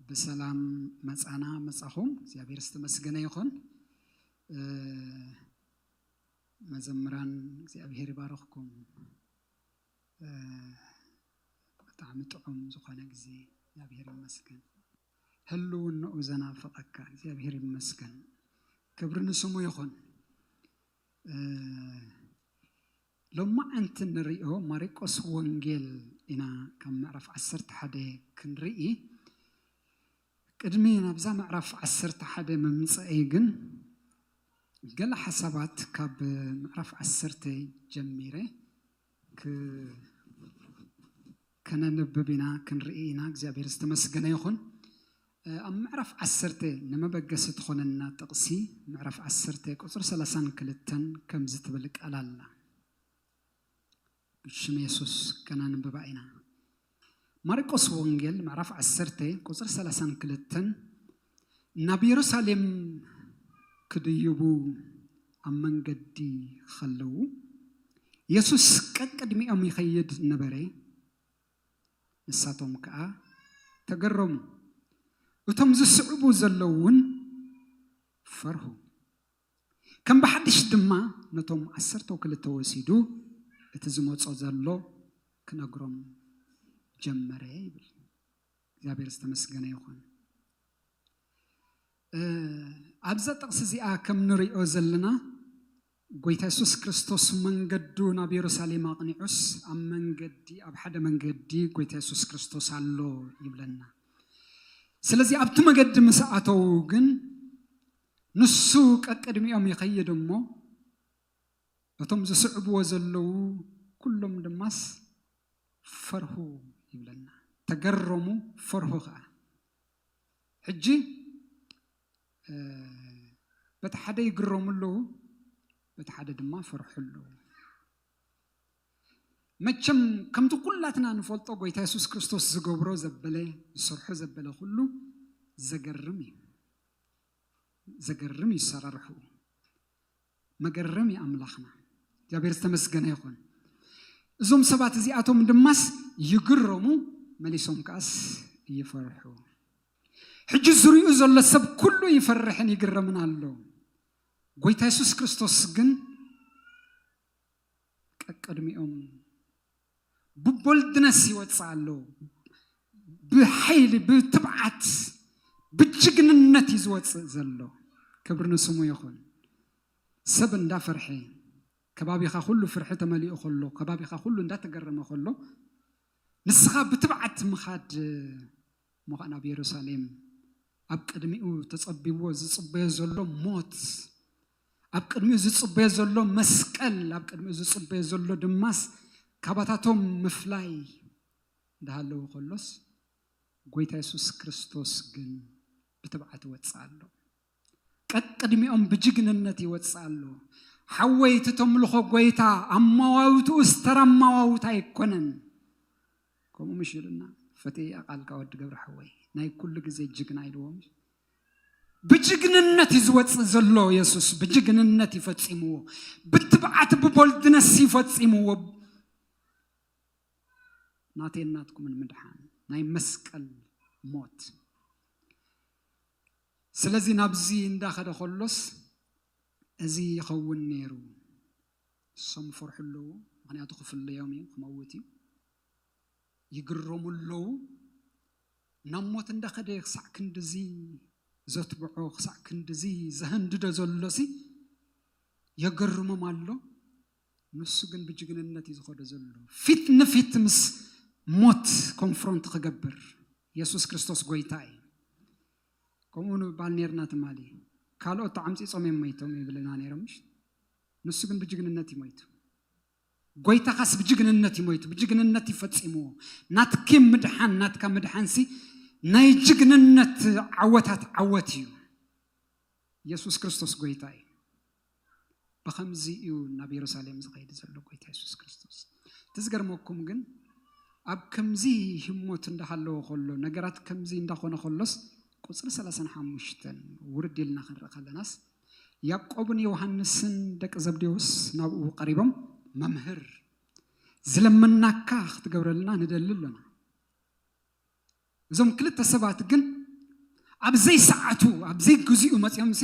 ብሰላም መጻና መጻኹም እግዚኣብሔር ዝተመስገነ ይኹን። መዘምራን እግዚኣብሔር ይባርኽኩም። ብጣዕሚ ጥዑም ዝኾነ ግዜ እግዚኣብሔር ይመስገን። ህልውንኡ ዘናፍቐካ እግዚኣብሔር ይመስገን። ክብሪ ንስሙ ይኹን። ሎማዓንቲ እንሪኦ ማሪቆስ ወንጌል ኢና ካብ ምዕራፍ ዓሰርተ ሓደ ክንርኢ ቅድሚ ናብዛ ምዕራፍ ዓሰርተ ሓደ ምምፀኤይ ግን ገለ ሓሳባት ካብ ምዕራፍ ዓሰርተ ጀሚረ ክ ከነንብብ ኢና ክንርኢ ኢና እግዚኣብሔር ዝተመስገነ ይኹን። ኣብ ምዕራፍ ዓሰርተ ንመበገሲ ትኾነና ጥቕሲ ምዕራፍ ዓሰርተ ቁፅሪ ሰላሳን ክልተን ከምዚ ትብል ቃል ኣላ ብሽም የሱስ ከነንብባ ኢና ማርቆስ ወንጌል ምዕራፍ ዓሰርተ ቁፅሪ ሰላሳን ክልተን ናብ የሩሳሌም ክድይቡ ኣብ መንገዲ ኸለዉ፣ የሱስ ቀቅድሚኦም ይኸይድ ነበረ፣ ንሳቶም ከኣ ተገረሙ፣ እቶም ዝስዕቡ ዘለዉውን ፈርሁ። ከም ብሓድሽ ድማ ነቶም ዓሰርተው ክልተ ወሲዱ እቲ ዝመጾ ዘሎ ክነግሮም ጀመረ ይብል። እግዚኣብሔር ዝተመስገነ ይኹን። ኣብዛ ጥቕሲ እዚኣ ከም ንሪኦ ዘለና ጎይታ የሱስ ክርስቶስ መንገዱ ናብ የሩሳሌም ኣቕኒዑስ ኣብ መንገዲ ኣብ ሓደ መንገዲ ጎይታ የሱስ ክርስቶስ ኣሎ ይብለና። ስለዚ ኣብቲ መገዲ ምስ ኣተዉ ግን ንሱ ቀቅድሚኦም ይኸይድ እሞ እቶም ዝስዕብዎ ዘለዉ ኩሎም ድማስ ፈርሁ ይብለና ተገረሙ ፈርሁ ከኣ ሕጂ በቲ ሓደ ይግረሙ ኣለዉ በቲ ሓደ ድማ ፈርሑ ኣለዉ መቸም ከምቲ ኩላትና ንፈልጦ ጎይታ የሱስ ክርስቶስ ዝገብሮ ዘበለ ዝሰርሖ ዘበለ ኩሉ ዘገርም እዩ ዘገርም እዩ ሰራርሑ መገረም እዩ ኣምላኽና እግዚኣብሔር ዝተመስገነ ይኹን እዞም ሰባት እዚኣቶም ድማስ ይግረሙ መሊሶም ከኣስ ይፈርሑ ሕጂ ዝሪኡ ዘሎ ሰብ ኩሉ ይፈርሕን ይግረምን ኣሎ ጎይታ የሱስ ክርስቶስ ግን ቀቅድሚኦም ብቦልድነስ ይወፅእ ኣሎ። ብሓይሊ ብትብዓት ብጅግንነት እዩ ዝወፅእ ዘሎ። ክብሪ ንስሙ ይኹን። ሰብ እንዳፈርሐ ከባቢኻ ኩሉ ፍርሒ ተመሊኡ ከሎ ከባቢኻ ኩሉ እንዳተገረመ ከሎ ንስኻ ብትብዓት ምኻድ ሞኻን ኣብ የሩሳሌም ኣብ ቅድሚኡ ተጸቢዎ ዝጽበዮ ዘሎ ሞት ኣብ ቅድሚኡ ዝጽበዮ ዘሎ መስቀል ኣብ ቅድሚኡ ዝጽበዮ ዘሎ ድማስ ካባታቶም ምፍላይ እንዳሃለዎ ከሎስ ጎይታ የሱስ ክርስቶስ ግን ብትብዓት ይወጽእ ኣሎ ቀቅድሚኦም ብጅግንነት ይወጽእ ኣሎ ሓወይ እቲ ተምልኾ ጎይታ ኣማዋውትኡስ ተራ ኣማዋውታ ኣይኮነን ከምኡ ምሽ ኢሉና ፈትየያ ቃልካ ወዲ ገብረ ሓወይ ናይ ኩሉ ግዜ ጅግና ኢልዎም ብጅግንነት እዩ ዝወፅእ ዘሎ የሱስ ብጅግንነት እዩ ፈፂምዎ ብትብዓት ብቦልድነስ እዩ ፈፂምዎ ናተይ ናትኩምን ምድሓን ናይ መስቀል ሞት ስለዚ ናብዚ እንዳኸደ ከሎስ እዚ ይኸውን ነይሩ እሶም ፈርሑ ኣለዉ ምክንያቱ ክፍለዮም እዩ ክመውት እዩ ይግረሙ ኣለዉ ናብ ሞት እንዳኸደ ክሳዕ ክንድዚ ዘትብዖ ክሳዕ ክንድዚ ዘሀንድዶ ዘሎሲ የገርሞም ኣሎ ንሱ ግን ብጅግንነት እዩ ዝኸዶ ዘሎ ፊት ንፊት ምስ ሞት ኮንፍሮንት ክገብር የሱስ ክርስቶስ ጎይታ እዩ ከምኡ ንባል ነርና ትማሊ ካልኦት ተዓምፂፆም እዮም መይቶም ይብልና ነይሮም ንሱ ግን ብጅግንነት እዩ መይቱ ጎይታኻስ ብጅግንነት እዩ ሞይቱ ብጅግንነት እዩ ፈጺምዎ ናትኪ ምድሓን ናትካ ምድሓንሲ ናይ ጅግንነት ዓወታት ዓወት እዩ ኢየሱስ ክርስቶስ ጎይታ እዩ ብኸምዚ እዩ ናብ የሩሳሌም ዝኸይድ ዘሎ ጎይታ ኢየሱስ ክርስቶስ እቲ ዝገርመኩም ግን ኣብ ከምዚ ህሞት እንዳሃለዎ ከሎ ነገራት ከምዚ እንዳኾነ ከሎስ ቁፅሪ 35 ውርድ ኢልና ክንርኢ ከለናስ ያእቆብን ዮሃንስን ደቂ ዘብዴዎስ ናብኡ ቀሪቦም መምህር ዝለመናካ ክትገብረልና ንደሊ ኣሎና። እዞም ክልተ ሰባት ግን ኣብ ዘይሰዓቱ ኣብ ዘይግዚኡ መጺኦምሲ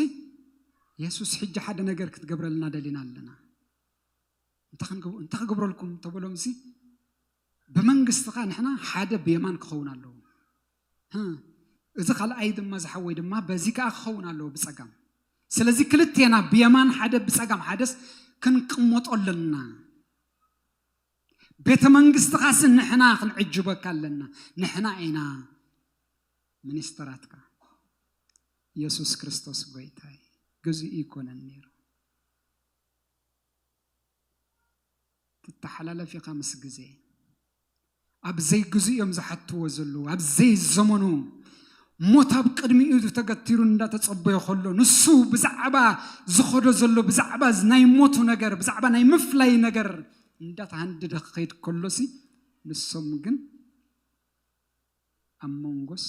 የሱስ ሕጂ ሓደ ነገር ክትገብረልና ደሊና ኣለና እንታይ ክገብረልኩም ተበሎምሲ ብመንግስትኻ ንሕና ሓደ ብየማን ክኸውን ኣለዎ እዚ ካልኣይ ድማ ዝሓወይ ድማ በዚ ከዓ ክኸውን ኣለዎ ብፀጋም ስለዚ ክልቴና ብየማን ሓደ ብፀጋም ሓደስ ክንቅመጦ ኣለና ቤተ መንግስትኻስ ንሕና ክንዕጅበካ ኣለና ንሕና ኢና ሚኒስተራትካ ኢየሱስ ክርስቶስ ጎይታይ ግዙእ ይኮነን ነይሩ ትተሓላለፍ ኢኻ ምስ ግዜ። ኣብ ዘይግዝኡ እዮም ዝሓትዎ ዘለዉ፣ ኣብ ዘይዘመኑ ሞት ኣብ ቅድሚኡ ተገቲሩ እንዳተጸበዮ ከሎ ንሱ ብዛዕባ ዝኸዶ ዘሎ ብዛዕባ ናይ ሞቱ ነገር ብዛዕባ ናይ ምፍላይ ነገር እንዳተሃንደደ ክኸይድ ከሎሲ ንሶም ግን ኣብ መንጎስ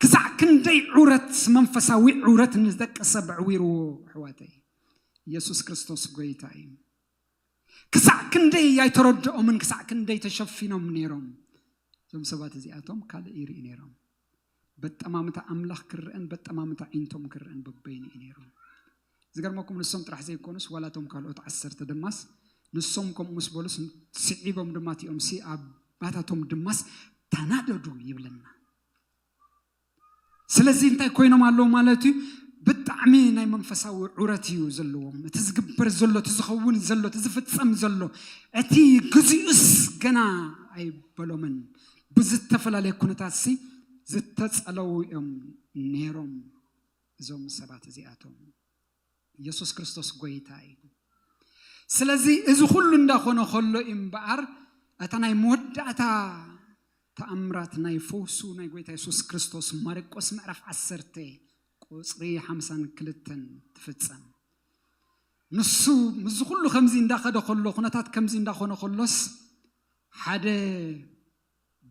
ክሳዕ ክንደይ ዑረት መንፈሳዊ ዑረት ንደቂ ሰብ ኣዕዊርዎ ኣሕዋተይ ኢየሱስ ክርስቶስ ጎይታ እዩ ክሳዕ ክንደይ ኣይተረድኦምን ክሳዕ ክንደይ ተሸፊኖም ነይሮም እዞም ሰባት እዚኣቶም ካልእ ይርኢ ነይሮም በጠማምታ ኣምላኽ ክርአን በጠማምታ ዒንቶም ክርአን በበይኑ እዩ ነይሩ ዝገርመኩም ንሶም ጥራሕ ዘይኮኑስ ዋላ እቶም ካልኦት ዓሰርተ ድማስ ንሶም ከምኡ ምስ በሉስ ስዒቦም ድማ እቲኦምሲ ኣባታቶም ድማስ ተናደዱ ይብለና። ስለዚ እንታይ ኮይኖም ኣለዉ ማለት እዩ ብጣዕሚ ናይ መንፈሳዊ ዑረት እዩ ዘለዎም እቲ ዝግበር ዘሎ እቲ ዝኸውን ዘሎ እቲ ዝፍፀም ዘሎ እቲ ግዚኡስ ገና ኣይበሎምን ብዝተፈላለየ ኩነታት ሲ ዝተፀለዉ እዮም ነይሮም እዞም ሰባት እዚኣቶም ኢየሱስ ክርስቶስ ጎይታ እዩ ስለዚ እዚ ኩሉ እንዳኾነ ከሎ እዩ እምበኣር እታ ናይ መወዳእታ ተኣምራት ናይ ፈውሱ ናይ ጎይታ የሱስ ክርስቶስ ማርቆስ ምዕራፍ ዓሰርተ ቁፅሪ ሓምሳን ክልተን ትፍፀም ንሱ ምስዚ ኩሉ ከምዚ እንዳኸደ ከሎ ኩነታት ከምዚ እንዳኾነ ከሎስ ሓደ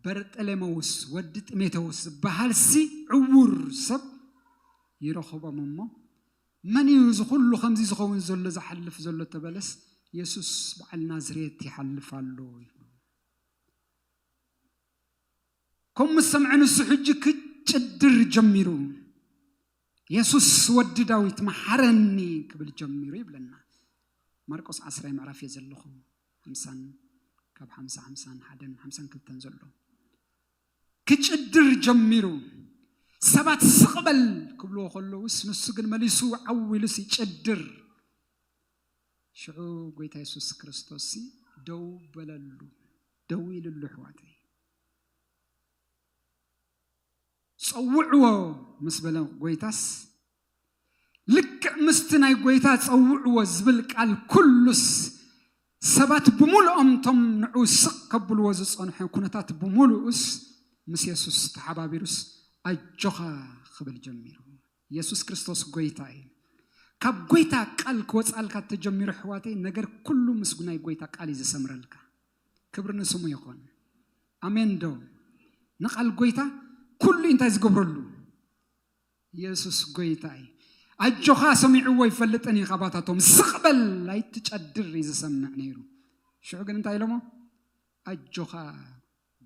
በርጠሌመውስ ወዲ ጥሜቴዎስ ዝበሃልሲ ዕዉር ሰብ ይረኽቦም እሞ፣ መን እዩ እዚ ኹሉ ከምዚ ዝኸውን ዘሎ ዝሓልፍ ዘሎ ተበለስ፣ የሱስ በዓል ናዝሬት ይሓልፍ ኣሎ ይብሉ። ከምኡ ምስ ሰምዐ ንሱ ሕጂ ክጭድር ጀሚሩ፣ የሱስ ወዲ ዳዊት መሓረኒ ክብል ጀሚሩ ይብለና። ማርቆስ ዓስራይ ምዕራፍ እየ ዘለኹ። ሓምሳን ካብ ሓምሳ ሓምሳን ሓደን ሓምሳን ክልተን ዘሎ ክጭድር ጀሚሩ ሰባት ስቕ በል ክብልዎ ከለውስ ንሱ ግን መሊሱ ዓው ኢሉስ ይጭድር ሽዑ ጎይታ የሱስ ክርስቶስ ደው በለሉ ደው ኢልሉ ኣሕዋተይ ጸውዕዎ ምስ በለ ጐይታስ፣ ልክዕ ምስቲ ናይ ጐይታ ጸውዕዎ ዝብል ቃል ኵሉስ፣ ሰባት ብምሉኦም እቶም ንዕኡ ስቕ ከብልዎ ዝጸንሑ ኵነታት ብምሉኡስ ምስ የሱስ ተሓባቢሩስ ኣጆኻ ክብል ጀሚሩ። የሱስ ክርስቶስ ጐይታ እዩ። ካብ ጐይታ ቃል ክወጽኣልካ ተጀሚሩ ኣሕዋተይ፣ ነገር ኵሉ ምስ ናይ ጐይታ ቃል እዩ ዝሰምረልካ። ክብሪ ንስሙ ይኩን ኣሜን ዶ ንቃል ጎይታ ኩሉ ኢንታይ ዝገብረሉ የሱስ ጎይታ እዩ ኣጆኻ ሰሚዕዎ ኣይፈልጥን እዩ ካባታቶም ስቕ በል ኣይትጨድር እዩ ዝሰምዕ ነይሩ ሽዑ ግን እንታይ ኢሎሞ ኣጆኻ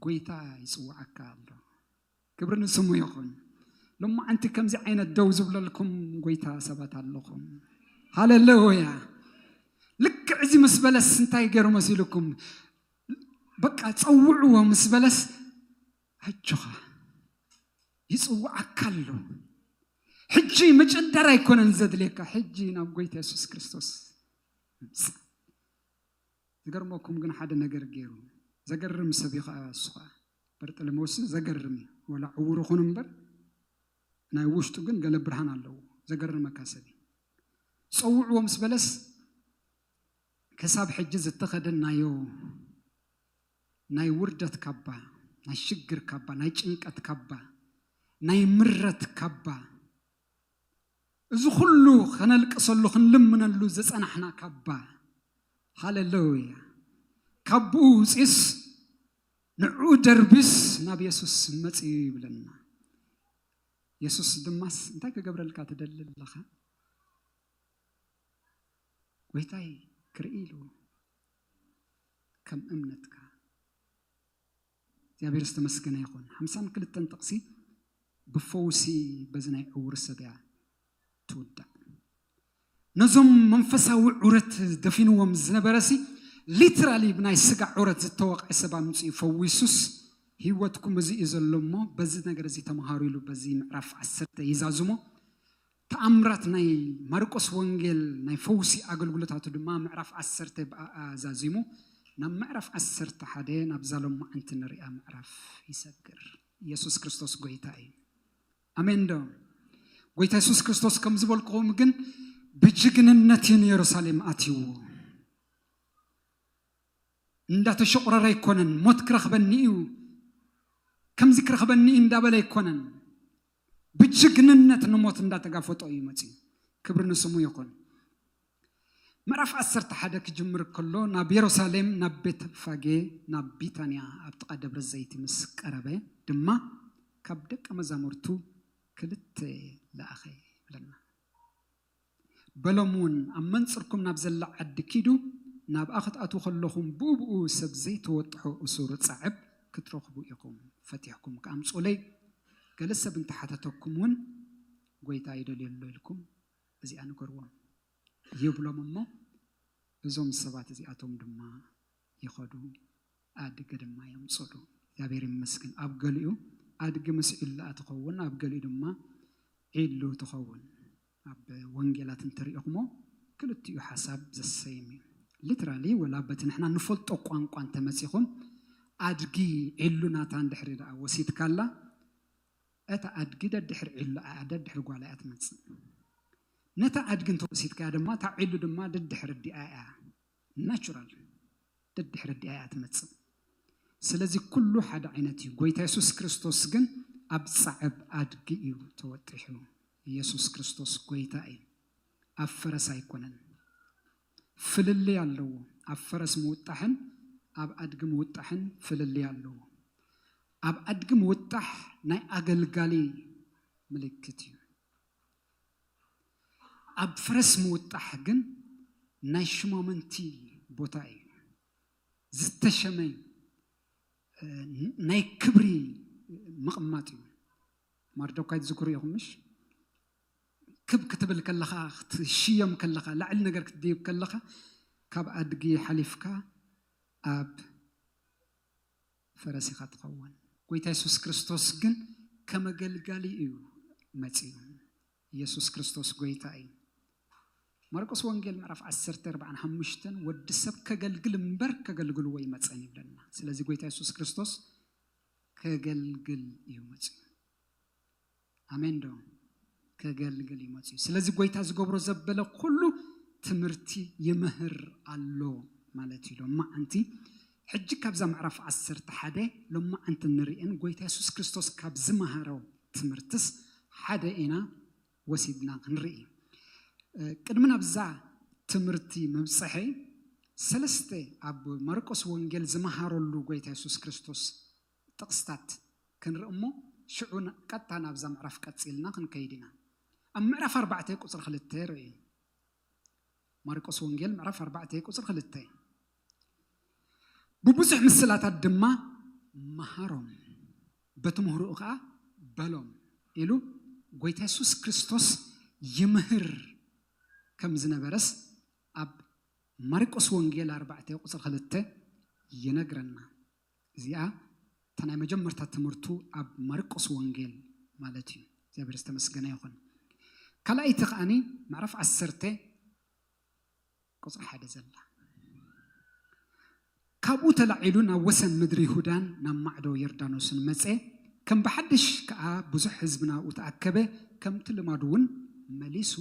ጎይታ ይፅዋዓካ ኣሎ ክብሪ ንስሙ ይኹን። ሎማዓንቲ ከምዚ ዓይነት ደው ዝብለልኩም ጎይታ ሰባት ኣለኹም። ሃለለውያ ልክዕ እዚ ምስ በለስ እንታይ ገይሩ መሲልኩም በቃ ፀውዕዎ ምስ በለስ ኣጆኻ ይፅውዓካ ኣሎ ሕጂ ምጭደር ኣይኮነን ዘድልየካ ሕጂ ናብ ጎይታ የሱስ ክርስቶስ ምምፃእ ዝገርመኩም ግን ሓደ ነገር ገይሩ ዘገርም ሰብ እዩ ከዓ እሱ ከዓ በርጠለመውስ ዘገርም እዩ ወላ ዕውር ኹን እምበር ናይ ውሽጡ ግን ገለ ብርሃን ኣለዎ ዘገርመካ ሰብ እዩ ጸውዕዎ ምስ በለስ ክሳብ ሕጂ ዝተኸደናዮ ናይ ውርደት ካባ ናይ ሽግር ካባ ናይ ጭንቀት ካባ ናይ ምረት ካባ እዚ ኩሉ ከነልቅሰሉ ክንልምነሉ ዝጸናሕና ካባ ሃለለውያ ካቡኡ ውጺስ ንዕኡ ደርብስ ናብ የሱስ መጽዩ ይብለና። የሱስ ድማስ እንታይ ክገብረልካ ትደሊ ኣለኻ? ጎይታይ ክርኢ ኢሉ ከም እምነትካ እግዚኣብሔር ዝተመስገነ ይኹን። ሓምሳን ክልተን ጥቕሲ ብፈውሲ በዚ ናይ ዕውር ሰብ እያ ትውዳእ። ነዞም መንፈሳዊ ዑረት ደፊንዎም ዝነበረሲ ሊትራሊ ብናይ ስጋ ዑረት ዝተወቕዐ ሰብ ኣምጺኡ ፈዊሱስ ህይወትኩም እዚ እዩ ዘሎ እሞ በዚ ነገር እዚ ተምሃሩ ኢሉ በዚ ምዕራፍ ዓሰርተ ይዛዝሞ ተኣምራት ናይ ማርቆስ ወንጌል ናይ ፈውሲ ኣገልግሎታቱ ድማ ምዕራፍ ዓሰርተ ብኣኣ ዛዚሙ ናብ ምዕራፍ ዓሰርተ ሓደ ናብዛ ሎማዓንቲ ንሪኣ ምዕራፍ ይሰግር ኢየሱስ ክርስቶስ ጎይታ እዩ ኣሜን ዶ ጎይታ የሱስ ክርስቶስ ከም ዝበልክኹም ግን ብጅግንነት እዩ ንየሩሳሌም ኣትይዎ እንዳተሸቑረረ ኣይኮነን ሞት ክረኽበኒ እዩ ከምዚ ክረኽበኒ እዩ እንዳበለ ኣይኮነን ብጅግንነት ንሞት እንዳተጋፈጦ እዩ መፅዩ ክብሪ ንስሙ ይኹን ምዕራፍ ዓሰርተ ሓደ ክጅምር ከሎ ናብ የሩሳሌም ናብ ቤተፋጌ ናብ ቢታንያ ኣብ ጥቓ ደብረ ዘይቲ ምስ ቀረበ ድማ ካብ ደቀ መዛሙርቱ ክልተ ለኣኸ ይብለና። በሎም እውን ኣብ መንጽርኩም ናብ ዘላ ዓዲ ኪዱ ናብኣ ክትኣትዉ ከለኹም ብኡብኡ ሰብ ዘይተወጥሖ እሱር ጻዕብ ክትረኽቡ ኢኹም፣ ፈቲሕኩም ከኣ ኣምጽኡለይ፣ ገለ ሰብ እንተ ሓተተኩም እውን ጐይታ ይደልዮ ኣሎ ኢልኩም እዚኣ ንገርዎም ይብሎም እሞ እዞም ሰባት እዚኣቶም ድማ ይኸዱ ኣድጊ ድማ የምጽእሉ። እግዚኣብሔር ይመስገን ኣብ ገሊኡ ኣድጊ ምስ ዒላኣ ትኸውን ኣብ ገሊኡ ድማ ዒሉ ትኸውን። ኣብ ወንጌላት እንተሪእኹሞ ክልቲኡ ሓሳብ ዘሰይም እዩ። ሊትራሊ ወላ በቲ ንሕና ንፈልጦ ቋንቋ እንተመጺኹም ኣድጊ ዒሉ ናታ እንድሕሪ ደኣ ወሲድካላ እታ ኣድጊ ደድሕሪ ዒሉኣ እያ፣ ደድሕሪ ጓላ እያ ትመጽእ። ነታ ኣድጊ እንተ ወሲድካያ ድማ፣ እታ ዒሉ ድማ ደድሕሪ ኣዲኣ እያ፣ Natural፣ ደድሕሪ ኣዲኣ እያ ትመጽእ። ስለዚ ኩሉ ሓደ ዓይነት እዩ። ጎይታ የሱስ ክርስቶስ ግን ኣብ ጻዕብ ኣድጊ እዩ ተወጢሑ። የሱስ ክርስቶስ ጎይታ እዩ፣ ኣብ ፈረስ ኣይኮነን። ፍልልይ ኣለዎ። ኣብ ፈረስ ምውጣሕን ኣብ ኣድጊ ምውጣሕን ፍልልይ ኣለዎ። ኣብ ኣድጊ ምውጣሕ ናይ ኣገልጋሊ ምልክት እዩ። ኣብ ፈረስ ምውጣሕ ግን ናይ ሽማምንቲ ቦታ እዩ። ዝተሸመ ናይ ክብሪ ምቕማጥ እዩ። ማርዶካይ ትዝክሩ ኢኹም ምሽ? ክብ ክትብል ከለኻ ክትሽየም ከለኻ ላዕሊ ነገር ክትድይብ ከለኻ ካብ ኣድጊ ሓሊፍካ ኣብ ፈረስ ኢኻ ትኸውን። ጎይታ የሱስ ክርስቶስ ግን ከም ኣገልጋሊ እዩ መጺኡ። የሱስ ክርስቶስ ጎይታ እዩ። ማርቆስ ወንጌል ምዕራፍ ዓሰርተ ኣርብዓን ሓሙሽተን ወዲ ሰብ ከገልግል እምበር ከገልግልዎ ኣይመጸን ይብለና። ስለዚ ጎይታ የሱስ ክርስቶስ ከገልግል እዩ መጺኡ። ኣሜን ዶ ከገልግል እዩ መፅዩ ስለዚ ጎይታ ዝገብሮ ዘበለ ኩሉ ትምህርቲ ይምህር ኣሎ ማለት እዩ ሎማ ኣንቲ ሕጂ ካብዛ ምዕራፍ ዓሰርተ ሓደ ሎማ ኣንቲ ንርእን ጎይታ የሱስ ክርስቶስ ካብ ዝመሃሮ ትምህርትስ ሓደ ኢና ወሲድና ክንርኢ ቅድሚ ናብዛ ትምህርቲ ምብፅሐይ ሰለስተ ኣብ ማርቆስ ወንጌል ዝመሃረሉ ጎይታ የሱስ ክርስቶስ ጥቕስታት ክንርኢ እሞ ሽዑ ቀጥታ ናብዛ ምዕራፍ ቀጺልና ክንከይድ ኢና። ኣብ ምዕራፍ ኣርባዕተ ቁጽሪ ክልተ ርእዩ። ማርቆስ ወንጌል ምዕራፍ ኣርባዕተ ቁጽሪ ክልተ ብብዙሕ ምስላታት ድማ መሃሮም በቲ ምህርኡ ከኣ በሎም ኢሉ ጎይታ የሱስ ክርስቶስ ይምህር ከም ዝነበረስ ኣብ ማርቆስ ወንጌል ኣርባዕተ ቁጽሪ ክልተ ይነግረና። እዚኣ እታ ናይ መጀመርታ ትምህርቱ ኣብ ማርቆስ ወንጌል ማለት እዩ እግዚኣብሔር ዝተመስገነ ይኹን ካልኣይቲ ከዓኒ ምዕራፍ ዓሰርተ ቁፅሪ ሓደ ዘላ ካብኡ ተላዒሉ ናብ ወሰን ምድሪ ይሁዳን ናብ ማዕዶ ዮርዳኖስን መፀ ከም ብሓድሽ ከዓ ብዙሕ ህዝቢ ናብኡ ተኣከበ ከምቲ ልማዱ እውን መሊሱ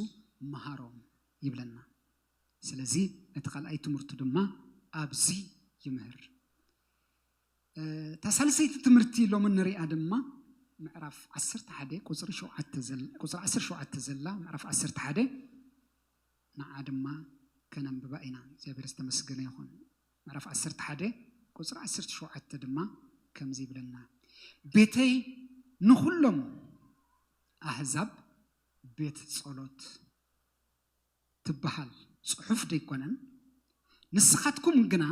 መሃሮም ይብለና ስለዚ ነቲ ካልኣይ ትምህርቱ ድማ ኣብዚ ይምህር። እታ ሳልሰይቲ ትምህርቲ ሎሚ ንሪኣ ድማ ምዕራፍ ዓሰርተ ሓደ ቁፅሪ ሸውዓተ ዘላ ቁፅሪ ዓሰርተ ሸውዓተ ዘላ ምዕራፍ ዓሰርተ ሓደ ንዓ ድማ ከነንብባ ኢና። እግዚኣብሔር ዝተመስገነ ይኹን። ምዕራፍ ዓሰርተ ሓደ ቁፅሪ ዓሰርተ ሸውዓተ ድማ ከምዚ ይብለና ቤተይ ንኹሎም ኣህዛብ ቤት ጸሎት ትበሃል ጽሑፍ ደይኮነን፣ ንስኻትኩም ግና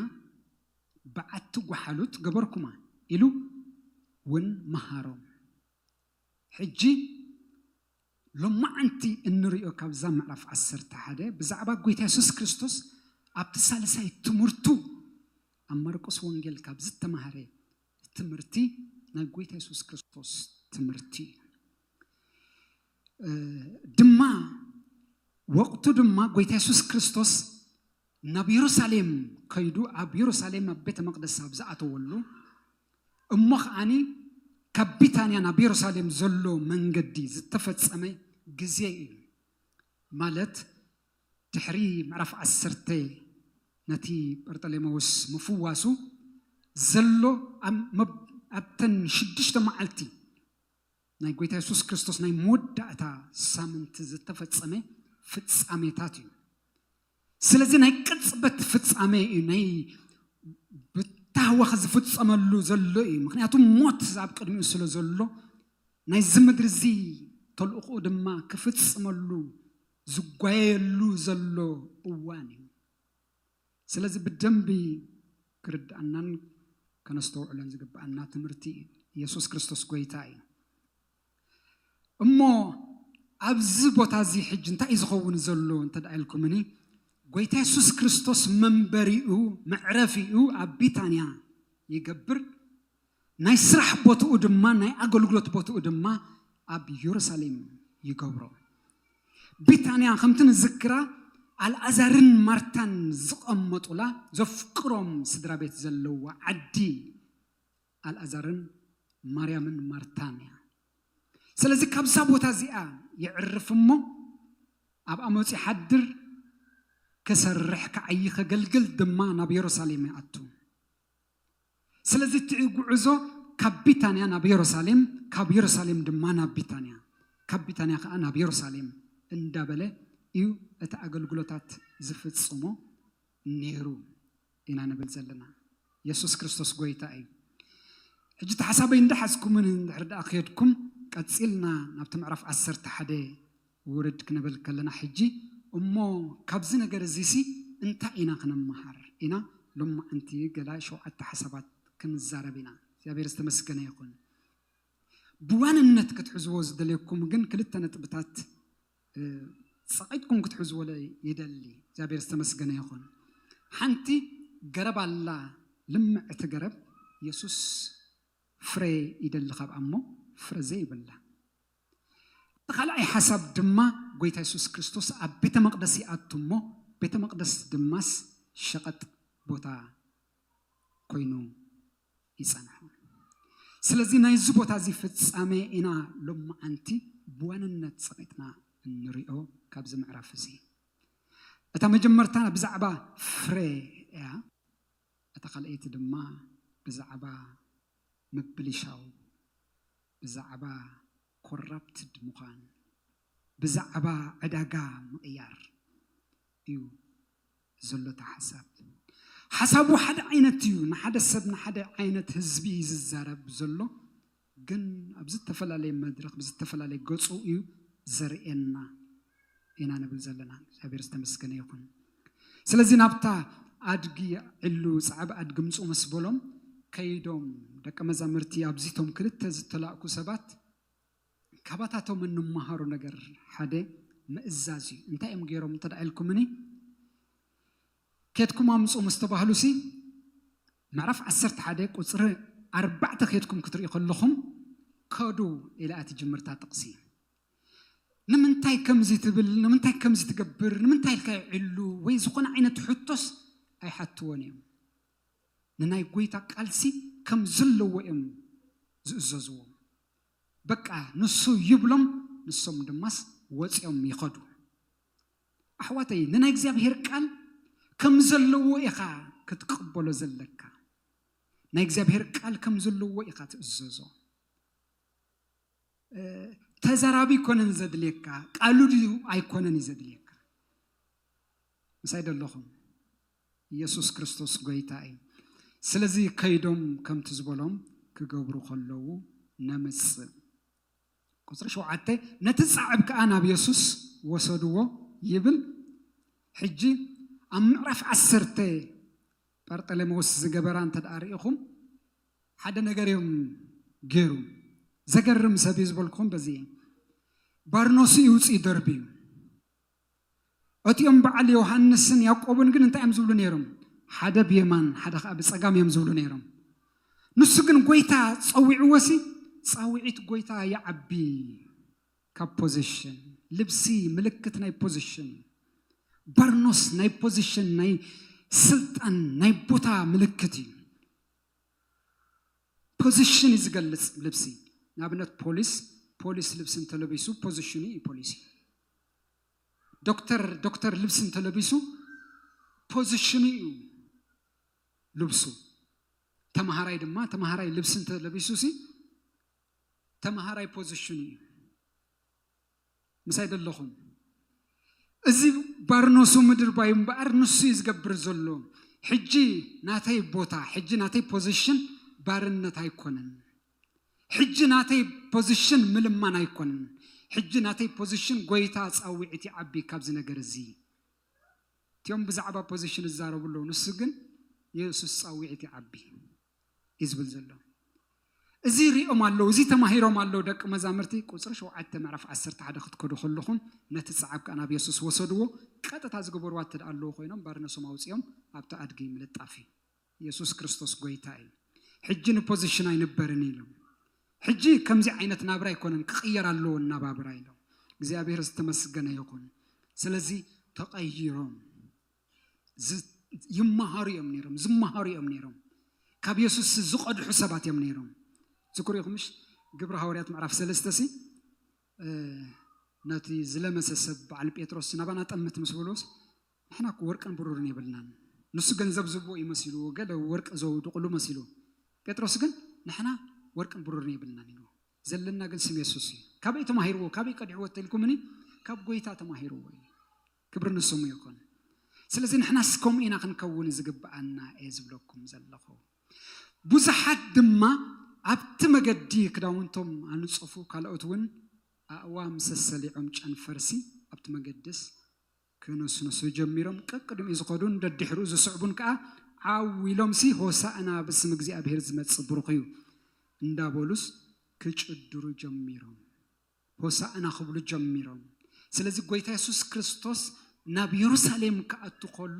በዓቲ ጐሓሉት ገበርኩማ ኢሉ ውን መሃሮም። ሕጂ ሎማዓንቲ እንርእዮ ካብዛ ምዕራፍ ዓሰርተ ሓደ ብዛዕባ ጐይታ የሱስ ክርስቶስ ኣብቲ ሳልሳይ ትምህርቱ ኣብ ማርቆስ ወንጌል ካብ ዝተማህረ ትምህርቲ ናይ ጎይታ የሱስ ክርስቶስ ትምህርቲ እዩ ድማ ወቅቱ ድማ ጎይታ የሱስ ክርስቶስ ናብ የሩሳሌም ከይዱ ኣብ የሩሳሌም ኣብ ቤተ መቅደስ ኣብ ዝኣተወሉ እሞ ከዓኒ ካብ ቢታንያ ናብ የሩሳሌም ዘሎ መንገዲ ዝተፈጸመ ግዜ እዩ ማለት ድሕሪ ምዕራፍ ዓሰርተ ነቲ ጰርጠሌመዎስ ምፍዋሱ ዘሎ ኣብተን ሽዱሽተ መዓልቲ ናይ ጎይታ የሱስ ክርስቶስ ናይ መወዳእታ ሳምንቲ ዝተፈጸመ ፍጻሜታት እዩ ስለዚ ናይ ቅጽበት ፍጻሜ እዩ ናይ ብታህዋኽ ዝፍጸመሉ ዘሎ እዩ ምክንያቱ ሞት ኣብ ቅድሚኡ ስለ ዘሎ ናይዚ ምድሪ እዚ ተልእኮኡ ድማ ክፍጽመሉ ዝጓየየሉ ዘሎ እዋን እዩ። ስለዚ ብደንቢ ክርድኣናን ከነስተውዕሎን ዝግብኣና ትምህርቲ እዩ። ኢየሱስ ክርስቶስ ጎይታ እዩ። እሞ ኣብዚ ቦታ እዚ ሕጂ እንታይ እዩ ዝኸውን ዘሎ እንተ ኢልኩምኒ ጎይታ የሱስ ክርስቶስ መንበሪኡ መዕረፊኡ ኣብ ቢታንያ ይገብር ናይ ስራሕ ቦትኡ ድማ ናይ ኣገልግሎት ቦትኡ ድማ ኣብ ዮሩሳሌም ይገብሮ። ቢታንያ ከምቲ ንዝክራ ኣልኣዛርን ማርታን ዝቐመጡላ ዘፍቅሮም ስድራቤት ዘለዋ ዓዲ ኣልኣዛርን ማርያምን ማርታን እያ። ስለዚ ካብዛ ቦታ እዚኣ የዕርፍ እሞ ኣብኣ መጺኡ ይሓድር፣ ክሰርሕ ክዓዪ ከገልግል ድማ ናብ ዮሩሳሌም ይኣቱ። ስለዚ እቲ ጕዕዞ ካብ ቢታንያ ናብ የሩሳሌም፣ ካብ የሩሳሌም ድማ ናብ ቢታንያ፣ ካብ ቢታንያ ኸኣ ናብ የሩሳሌም እንዳበለ እዩ እቲ ኣገልግሎታት ዝፍጽሞ ነይሩ ኢና ንብል ዘለና። የሱስ ክርስቶስ ጐይታ እዩ። ሕጂ እቲ ሓሳበይ እንዳሓዝኩምን እንድሕሪ ደኣ ኬድኩም ቀጺልና ናብቲ ምዕራፍ ዓሰርተ ሓደ ውርድ ክንብል ከለና ሕጂ እሞ ካብዚ ነገር እዚሲ እንታይ ኢና ክንመሃር ኢና ሎማዕንቲ ገላ ሸውዓተ ሓሳባት ክንዛረብ ኢና እግዚኣብሔር ዝተመስገነ ይኹን ብዋንነት ክትሕዝዎ ዝደልየኩም ግን ክልተ ነጥብታት ጸቂጥኩም ክትሕዝዎ ይደሊ እግዚኣብሔር ዝተመስገነ ይኹን ሓንቲ ገረብ ኣላ ልምዕቲ ገረብ የሱስ ፍረ ይደሊ ካብኣ እሞ ፍረ ዘይብላ እቲ ካልኣይ ሓሳብ ድማ ጎይታ የሱስ ክርስቶስ ኣብ ቤተ መቕደስ ይኣቱ እሞ ቤተ መቕደስ ድማስ ሸቐጥ ቦታ ኮይኑ ይጸንሖ። ስለዚ ናይዚ ቦታ እዚ ፍጻሜ ኢና ሎማዓንቲ ብዋንነት ጸቒጥና እንሪኦ ካብዚ ምዕራፍ እዚ። እታ መጀመርታ ብዛዕባ ፍረ እያ፣ እታ ካልኣይቲ ድማ ብዛዕባ ምብልሻው ብዛዕባ ኮራፕትድ ምዃን ብዛዕባ ዕዳጋ ምቕያር እዩ ዘሎ እቲ ሓሳብ። ሓሳቡ ሓደ ዓይነት እዩ ንሓደ ሰብ ንሓደ ዓይነት ህዝቢ እዩ ዝዛረብ ዘሎ ግን ኣብ ዝተፈላለየ መድረኽ ብዝተፈላለየ ገፁ እዩ ዘርእየና። ኢና ንብል ዘለና። እግዚኣብሔር ዝተመስገነ ይኹን። ስለዚ ናብታ ኣድጊ ዕሉ ጻዕብ ኣድጊ ምጹ ምስ በሎም ከይዶም ደቀ መዛሙርቲ ኣብዚቶም ክልተ ዝተላእኩ ሰባት ካባታቶም እንመሃሮ ነገር ሓደ ምእዛዝ እዩ። እንታይ እዮም ገይሮም እንተ ኢልኩምኒ ኬድኩም ኣምጹ ምስ ተባህሉሲ ምዕራፍ ዓሰርተ ሓደ ቁፅሪ ኣርባዕተ ኬድኩም ክትርኢ ከለኹም ከዱ ኢላ እያ ትጅምርታ ጥቕሲ ንምንታይ ከምዚ ትብል፣ ንምንታይ ከምዚ ትገብር፣ ንምንታይ ኢልካ ይዕሉ ወይ ዝኾነ ዓይነት ሕቶስ ኣይሓትዎን እዮም። ንናይ ጐይታ ቃልሲ ከም ዘለዎ እዮም ዝእዘዝዎ። በቃ ንሱ ይብሎም ንሶም ድማስ ወጺኦም ይኸዱ። ኣሕዋተይ ንናይ እግዚኣብሔር ቃል ከም ዘለዎ ኢኻ ክትቅበሎ ዘለካ። ናይ እግዚኣብሔር ቃል ከም ዘለዎ ኢኻ ትእዘዞ። ተዛራቢ ኣይኮነን ዘድልየካ ቃሉ ድዩ ኣይኮነን እዩ ዘድልየካ ምሳይ ደለኹም ኢየሱስ ክርስቶስ ጎይታ እዩ ስለዚ ከይዶም ከምቲ ዝበሎም ክገብሩ ከለዉ ነምጽእ ቁፅሪ ሸውዓተ ነቲ ፃዕብ ከዓ ናብ የሱስ ወሰድዎ ይብል ሕጂ ኣብ ምዕራፍ ዓሰርተ ጳርጠለሜዎስ ዝገበራ እንተ ርኢኹም ሓደ ነገር እዮም ገይሩ ዘገርም ሰብ እዩ ዝበልኩኹም በዚ እየ ባርኖሱ ይውፅእ ደርቢ እዩ እቲኦም በዓል ዮሃንስን ያዕቆብን ግን እንታይ እዮም ዝብሉ ነይሮም ሓደ ብየማን ሓደ ከዓ ብፀጋም እዮም ዝብሉ ነይሮም ንሱ ግን ጎይታ ፀዊዕዎሲ ፃውዒት ጎይታ ይዓቢ ካብ ፖዚሽን ልብሲ ምልክት ናይ ፖዚሽን ባርኖስ ናይ ፖዚሽን ናይ ስልጣን ናይ ቦታ ምልክት እዩ ፖዚሽን እዩ ዝገልፅ ልብሲ ንኣብነት ፖሊስ ፖሊስ ልብሲ እንተለቢሱ ፖዚሽኑ እዩ ፖሊስ እዩ ዶክተር ዶክተር ልብሲ እንተለቢሱ ፖዚሽኑ እዩ ልብሱ ተምሃራይ ድማ ተምሃራይ ልብሲ እንተለቢሱ ሲ ተምሃራይ ፖዚሽኑ እዩ ምሳይ ዶ ኣለኹም? እዚ ባርኖሱ ምድርባዩ እምበኣር ንሱ እዩ ዝገብር ዘሎ። ሕጂ ናተይ ቦታ፣ ሕጂ ናተይ ፖዚሽን ባርነት ኣይኮነን። ሕጂ ናተይ ፖዚሽን ምልማን ኣይኮነን። ሕጂ ናተይ ፖዚሽን ጎይታ ጻውዒት ይዓቢ ካብዚ ነገር እዚ። እቲኦም ብዛዕባ ፖዚሽን ይዛረቡ ኣለዉ፣ ንሱ ግን የሱስ ጻውዒት ይዓቢ። እዩ ዝብል ዘሎ። እዚ ሪኦም ኣለው እዚ ተማሂሮም ኣለው ደቂ መዛምርቲ ቁጽሪ ሸውዓተ ምዕራፍ ዓሰርተ ሓደ ክትከዱ ከለኹም ነቲ ጸዓብ ከኣ ናብ የሱስ ወሰድዎ ቀጥታ ዝገበርዋ እተ ኣለዉ ኮይኖም ባርነሶም ኣውጺኦም ኣብቲ ኣድጊ ምልጣፍ እዩ የሱስ ክርስቶስ ጎይታ እዩ ሕጂ ንፖዚሽን ኣይንበርን ኢሎም ሕጂ ከምዚ ዓይነት ናብራ ኣይኮነን ክቕየር ኣለዎ እናባብራ ኢሎም እግዚኣብሔር ዝተመስገነ ይኹን ስለዚ ተቐይሮም ይመሃሩ እዮም ነይሮም ዝመሃሩ እዮም ነይሮም ካብ የሱስ ዝቐድሑ ሰባት እዮም ነይሮም ዝኩሪኹምሽ ግብሪ ሃዋርያት ምዕራፍ ሰለስተ ሲ ነቲ ዝለመሰ ሰብ በዓል ጴጥሮስ ናባና ጠምት ምስ በሎስ ንሕና እኮ ወርቅን ብሩርን የብልናን ንሱ ገንዘብ ዝቦ እዩ መሲልዎ ገለ ወርቂ ዘውድቕሉ መሲሉ ጴጥሮስ ግን ንሕና ወርቅን ብሩርን የብልናን ኢልዎ ዘለና ግን ስም የሱስ እዩ ካበይ ተማሂርዎ ካበይ ቀዲዕዎ ተልኩምኒ ካብ ጎይታ ተማሂርዎ እዩ ክብሪ ንስሙ ይኹን ስለዚ ንሕናስ ከምኡ ኢና ክንከውን ዝግብኣና እየ ዝብለኩም ዘለኹ ብዙሓት ድማ ኣብቲ መገዲ ክዳውንቶም ኣንጸፉ ካልኦት እውን ኣእዋም ሰሰሊዖም ጨንፈርሲ ኣብቲ መገድስ ክነስንሱ ጀሚሮም ቀቅድሚኡ ዝኸዱን ደድሕሩ ዝስዕቡን ከዓ ዓው ኢሎምሲ ሆሳእና ብስም እግዚኣብሄር ዝመፅእ ብሩኽ እዩ እንዳበሉስ ክጭድሩ ጀሚሮም ሆሳእና ክብሉ ጀሚሮም። ስለዚ ጎይታ የሱስ ክርስቶስ ናብ የሩሳሌም ክኣቱ ከሎ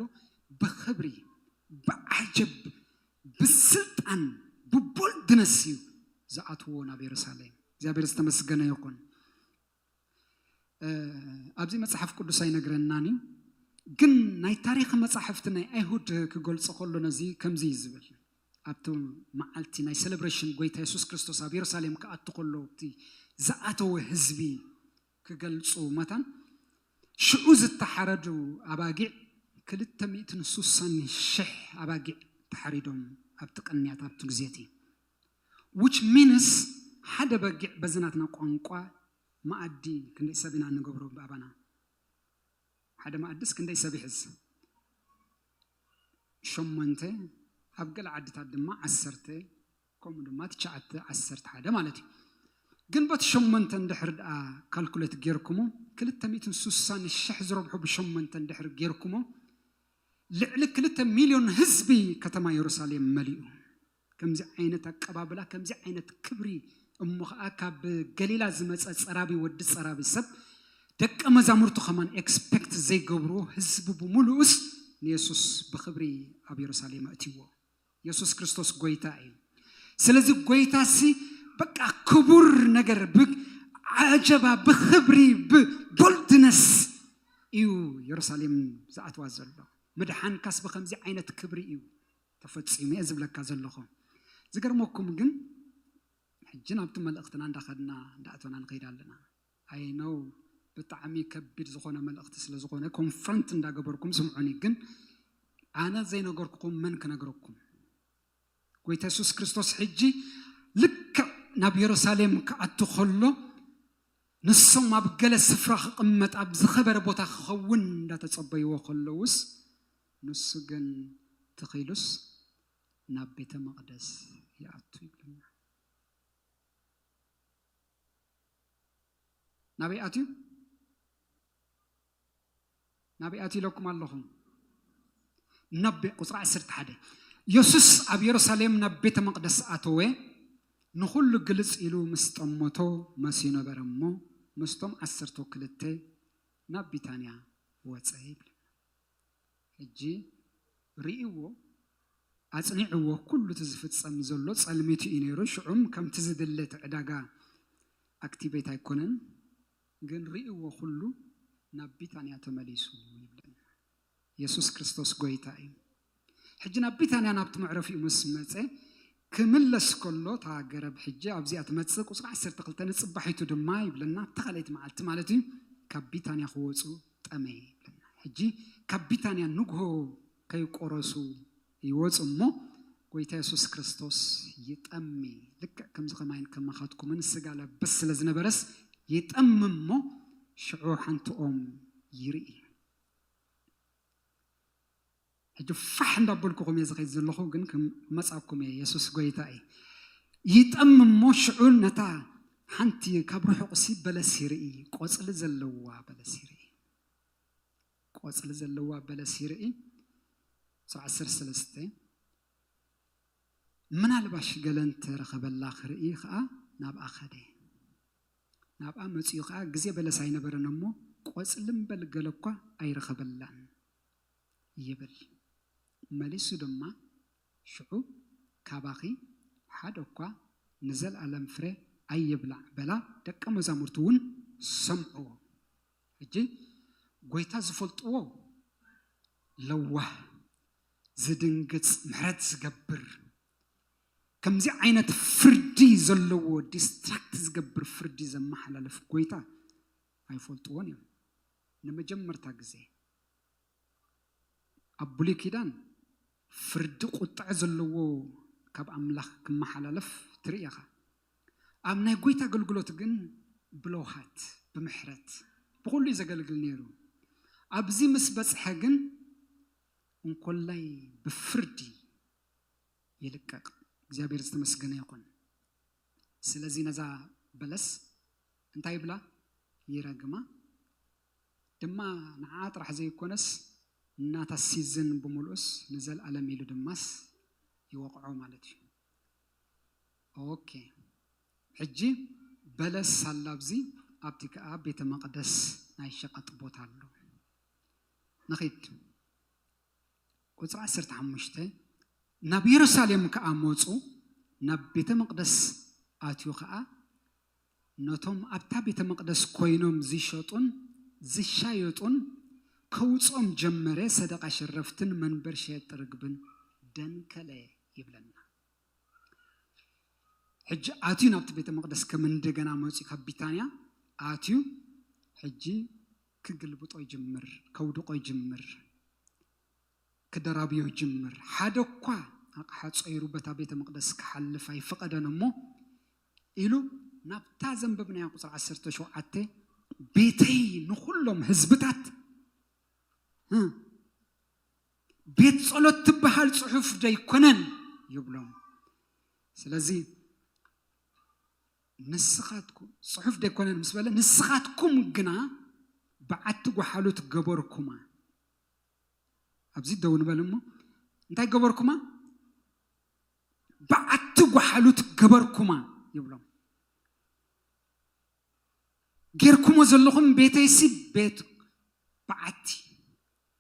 ብኽብሪ፣ ብዓጀብ፣ ብስልጣን፣ ብቦልድነስ እዩ ዝኣትዎ ናብ የሩሳሌም። እግዚኣብሔር ዝተመስገነ ይኹን። ኣብዚ መጽሓፍ ቅዱስ ኣይነግረናን እዩ ግን ናይ ታሪክ መጻሕፍቲ ናይ ኣይሁድ ክገልጾ ከሎ ነዚ ከምዚ እዩ ዝብል ኣብቲ መዓልቲ ናይ ሰለብረሽን ጎይታ የሱስ ክርስቶስ ኣብ የሩሳሌም ክኣቱ ከሎ እቲ ዝኣተወ ህዝቢ ክገልጹ መታን ሽዑ ዝተሓረዱ ኣባጊዕ ክልተ ሚእትን ሱሳን ሽሕ ኣባጊዕ ተሓሪዶም ኣብቲ ቅንያት ኣብቲ ግዜ እቲ which means ሓደ በጊዕ በዚ ናትና ቋንቋ መኣዲ ክንደይ ሰብ ኢና ንገብሮ ብኣባና ሓደ መኣድስ ክንደይ ሰብ ይሕዝ? ሸሞንተ፣ ኣብ ገለ ዓድታት ድማ ዓሰርተ፣ ከምኡ ድማ ትሽዓተ፣ ዓሰርተ ሓደ ማለት እዩ። ግን በቲ ሸሞንተ እንድሕር ደኣ ካልኩሌት ጌርኩሞ፣ ክልተ ሚእትን ስሳን ሽሕ ዝረብሑ ብሸሞንተ እንድሕር ጌርኩሞ፣ ልዕሊ ክልተ ሚልዮን ህዝቢ ከተማ የሩሳሌም መሊኡ። ከምዚ ዓይነት ኣቀባብላ ከምዚ ዓይነት ክብሪ እሞ ከኣ ካብ ገሊላ ዝመጸ ጸራቢ ወዲ ጸራቢ ሰብ ደቀ መዛሙርቱ ከማን ኤክስፐክት ዘይገብርዎ ህዝቢ ብምሉኡስ ንየሱስ ብክብሪ ኣብ የሩሳሌም ኣእትይዎ የሱስ ክርስቶስ ጎይታ እዩ ስለዚ ጎይታሲ በቃ ክቡር ነገር ብ ዓጀባ ብክብሪ ብቦልድነስ እዩ የሩሳሌም ዝኣትዋ ዘሎ ምድሓንካስ ብከምዚ ዓይነት ክብሪ እዩ ተፈጺሙ እየ ዝብለካ ዘለኹ። ዝገርመኩም ግን ሕጂ ናብቲ መልእኽትና እንዳኸድና እንዳኣተና ንኸይድ ኣለና። I know ብጣዕሚ ከቢድ ዝኾነ መልእኽቲ ስለ ዝኾነ ኮንፍረንት እንዳገበርኩም ስምዑኒ ግን ኣነ ዘይነገርኩኹም መን ክነግረኩም። ጎይታ የሱስ ክርስቶስ ሕጂ ልክዕ ናብ የሩሳሌም ክኣቱ ከሎ ንሶም ኣብ ገለ ስፍራ ክቕመጥ ኣብ ዝኸበረ ቦታ ክኸውን እንዳተጸበይዎ ከለውስ ንሱ ግን ተኺሉስ ናብ ቤተ መቕደስ ይኣቱ ይብለና። ናበይ ኣትዩ? ናበይ ኣትዩ ኢለኩም ኣለኹ? ናብ ቁፅሪ ዓሰርተ ሓደ የሱስ ኣብ የሩሳሌም ናብ ቤተ መቕደስ ኣተወ፣ ንኹሉ ግልጽ ኢሉ ምስ ጠመቶ መስዩ ነበረ እሞ ምስቶም ዓሰርተ ክልተ ናብ ቢታንያ ወፀ ይብል። ሕጂ ርእይዎ ኣጽኒዕዎ ኩሉ እቲ ዝፍጸም ዘሎ ጸልሚት ኢዩ ነይሩ ሽዑም ከምቲ ዝድለ እቲ ዕዳጋ ኣክቲቬት ኣይኮነን ግን ርእይዎ ኩሉ ናብ ቢታንያ ተመሊሱ ይብለና የሱስ ክርስቶስ ጎይታ ኢዩ ሕጂ ናብ ቢታንያ ናብቲ መዕረፊኡ ምስ መጸ ክምለስ ከሎ እታ ገረብ ሕጂ ኣብዚኣ ትመጽእ ቁጽሪ ዓሰርተ ክልተ ንጽባሒቱ ድማ ይብለና ኣብታ ካልኣይቲ መዓልቲ ማለት እዩ ካብ ቢታንያ ክወጹ ጠመየ ይብለና ሕጂ ካብ ቢታንያ ንግሆ ከይቆረሱ ይወጹ እሞ ጎይታ የሱስ ክርስቶስ ይጠሚ ልክዕ ከምዚ ከማይን ከማኻትኩምን ስጋ ለብስ ስለ ዝነበረስ ይጠሚ እሞ ሽዑ ሓንቲ ኦም ይርኢ ሕጂ ፋሕ እንዳበልኩኹም እየ ዝኸይድ ዘለኹ ግን ክመጻኩም እየ የሱስ ጎይታ እዩ ይጠም እሞ ሽዑ ነታ ሓንቲ ካብ ርሑቕሲ በለስ ይርኢ ቆጽሊ ዘለዋ በለስ ይርኢ ቆጽሊ ዘለዋ በለስ ይርኢ ስብ ዓሰርተ ሰለስተ ምናልባሽ ገለ እንተረኸበላ ክርኢ ከዓ ናብኣ ኸደ ናብኣ መፅኡ ከዓ ግዜ በለስ ኣይነበረን እሞ ቆፅሊ እምበል ገለ እኳ ኣይረኸበላን ይብል። መሊሱ ድማ፣ ሽዑ ካባኺ ሓደ እኳ ንዘለኣለም ፍረ ኣይብላዕ በላ፣ ደቀ መዛሙርቱ እውን ሰምዕዎ። ሕጂ ጐይታ ዝፈልጥዎ ለዋህ፣ ዝድንግጽ፣ ምሕረት ዝገብር፣ ከምዚ ዓይነት ፍርዲ ዘለዎ ዲስትራክት ዝገብር ፍርዲ ዘመሓላልፍ ጐይታ ኣይፈልጥዎን እዮም። ንመጀመርታ ግዜ። ኣብ ብሉይ ኪዳን ፍርዲ ቁጥዐ ዘለዎ ካብ ኣምላኽ ክመሓላለፍ ትርኢ ኢኻ። ኣብ ናይ ጎይታ ኣገልግሎት ግን ብለውሃት ብምሕረት ብኹሉ እዩ ዘገልግል ነይሩ። ኣብዚ ምስ በጽሐ ግን እንኮላይ ብፍርዲ ይልቀቅ። እግዚኣብሔር ዝተመስገነ ይኹን። ስለዚ ነዛ በለስ እንታይ ይብላ? ይረግማ። ድማ ንዓኣ ጥራሕ ዘይኮነስ ናታ ሲዝን ብሙሉኡስ ንዘልኣለም ኢሉ ድማስ ይወቕዖ ማለት እዩ ok ሕጂ በለስ ኣላ ኣብዚ ኣብቲ ከኣ ቤተመቕደስ ናይ ሸቐጥ ቦታ ኣሎ ንኺድ ቁጽሪ ዓሰርተ ሓሙሽተ ናብ የሩሳሌም ከኣ መጹ ናብ ቤተመቕደስ ኣትዩ ከኣ ነቶም ኣብታ ቤተ መቕደስ ኮይኖም ዚሸጡን ዚሻየጡን ከውጽኦም ጀመረ፣ ሰደቓ ሸረፍትን መንበር ሸየጥቲ ርግብን ደንከለ ይብለና። ሕጂ ኣትዩ ናብቲ ቤተ መቕደስ ከም እንደገና መጽዩ ካብ ቢታንያ ኣትዩ ሕጂ ክግልብጦ ይጅምር፣ ከውድቆ ይጅምር፣ ክደራብዮ ይጅምር። ሓደ እኳ ኣቕሓ ጾይሩ በታ ቤተ መቕደስ ክሓልፍ ኣይፈቐደን እሞ ኢሉ ናብታ ዘንበብናያ ቁጽሪ ዓሰርተ ሸውዓተ ቤተይ ንኹሎም ህዝብታት ቤት ጸሎት ትበሃል ጽሑፍ ደይኮነን ይብሎም ስለዚ ንስኻትኩም ጽሑፍ ደይኮነን ምስ በለ ንስኻትኩም ግና በዓቲ ጓሓሉት ገበርኩማ ኣብዚ ደው ንበል እሞ እንታይ ገበርኩማ በዓቲ ጓሓሉት ገበርኩማ ይብሎም። ጌርኩሞ ዘለኹም ቤተይሲ ቤት በዓቲ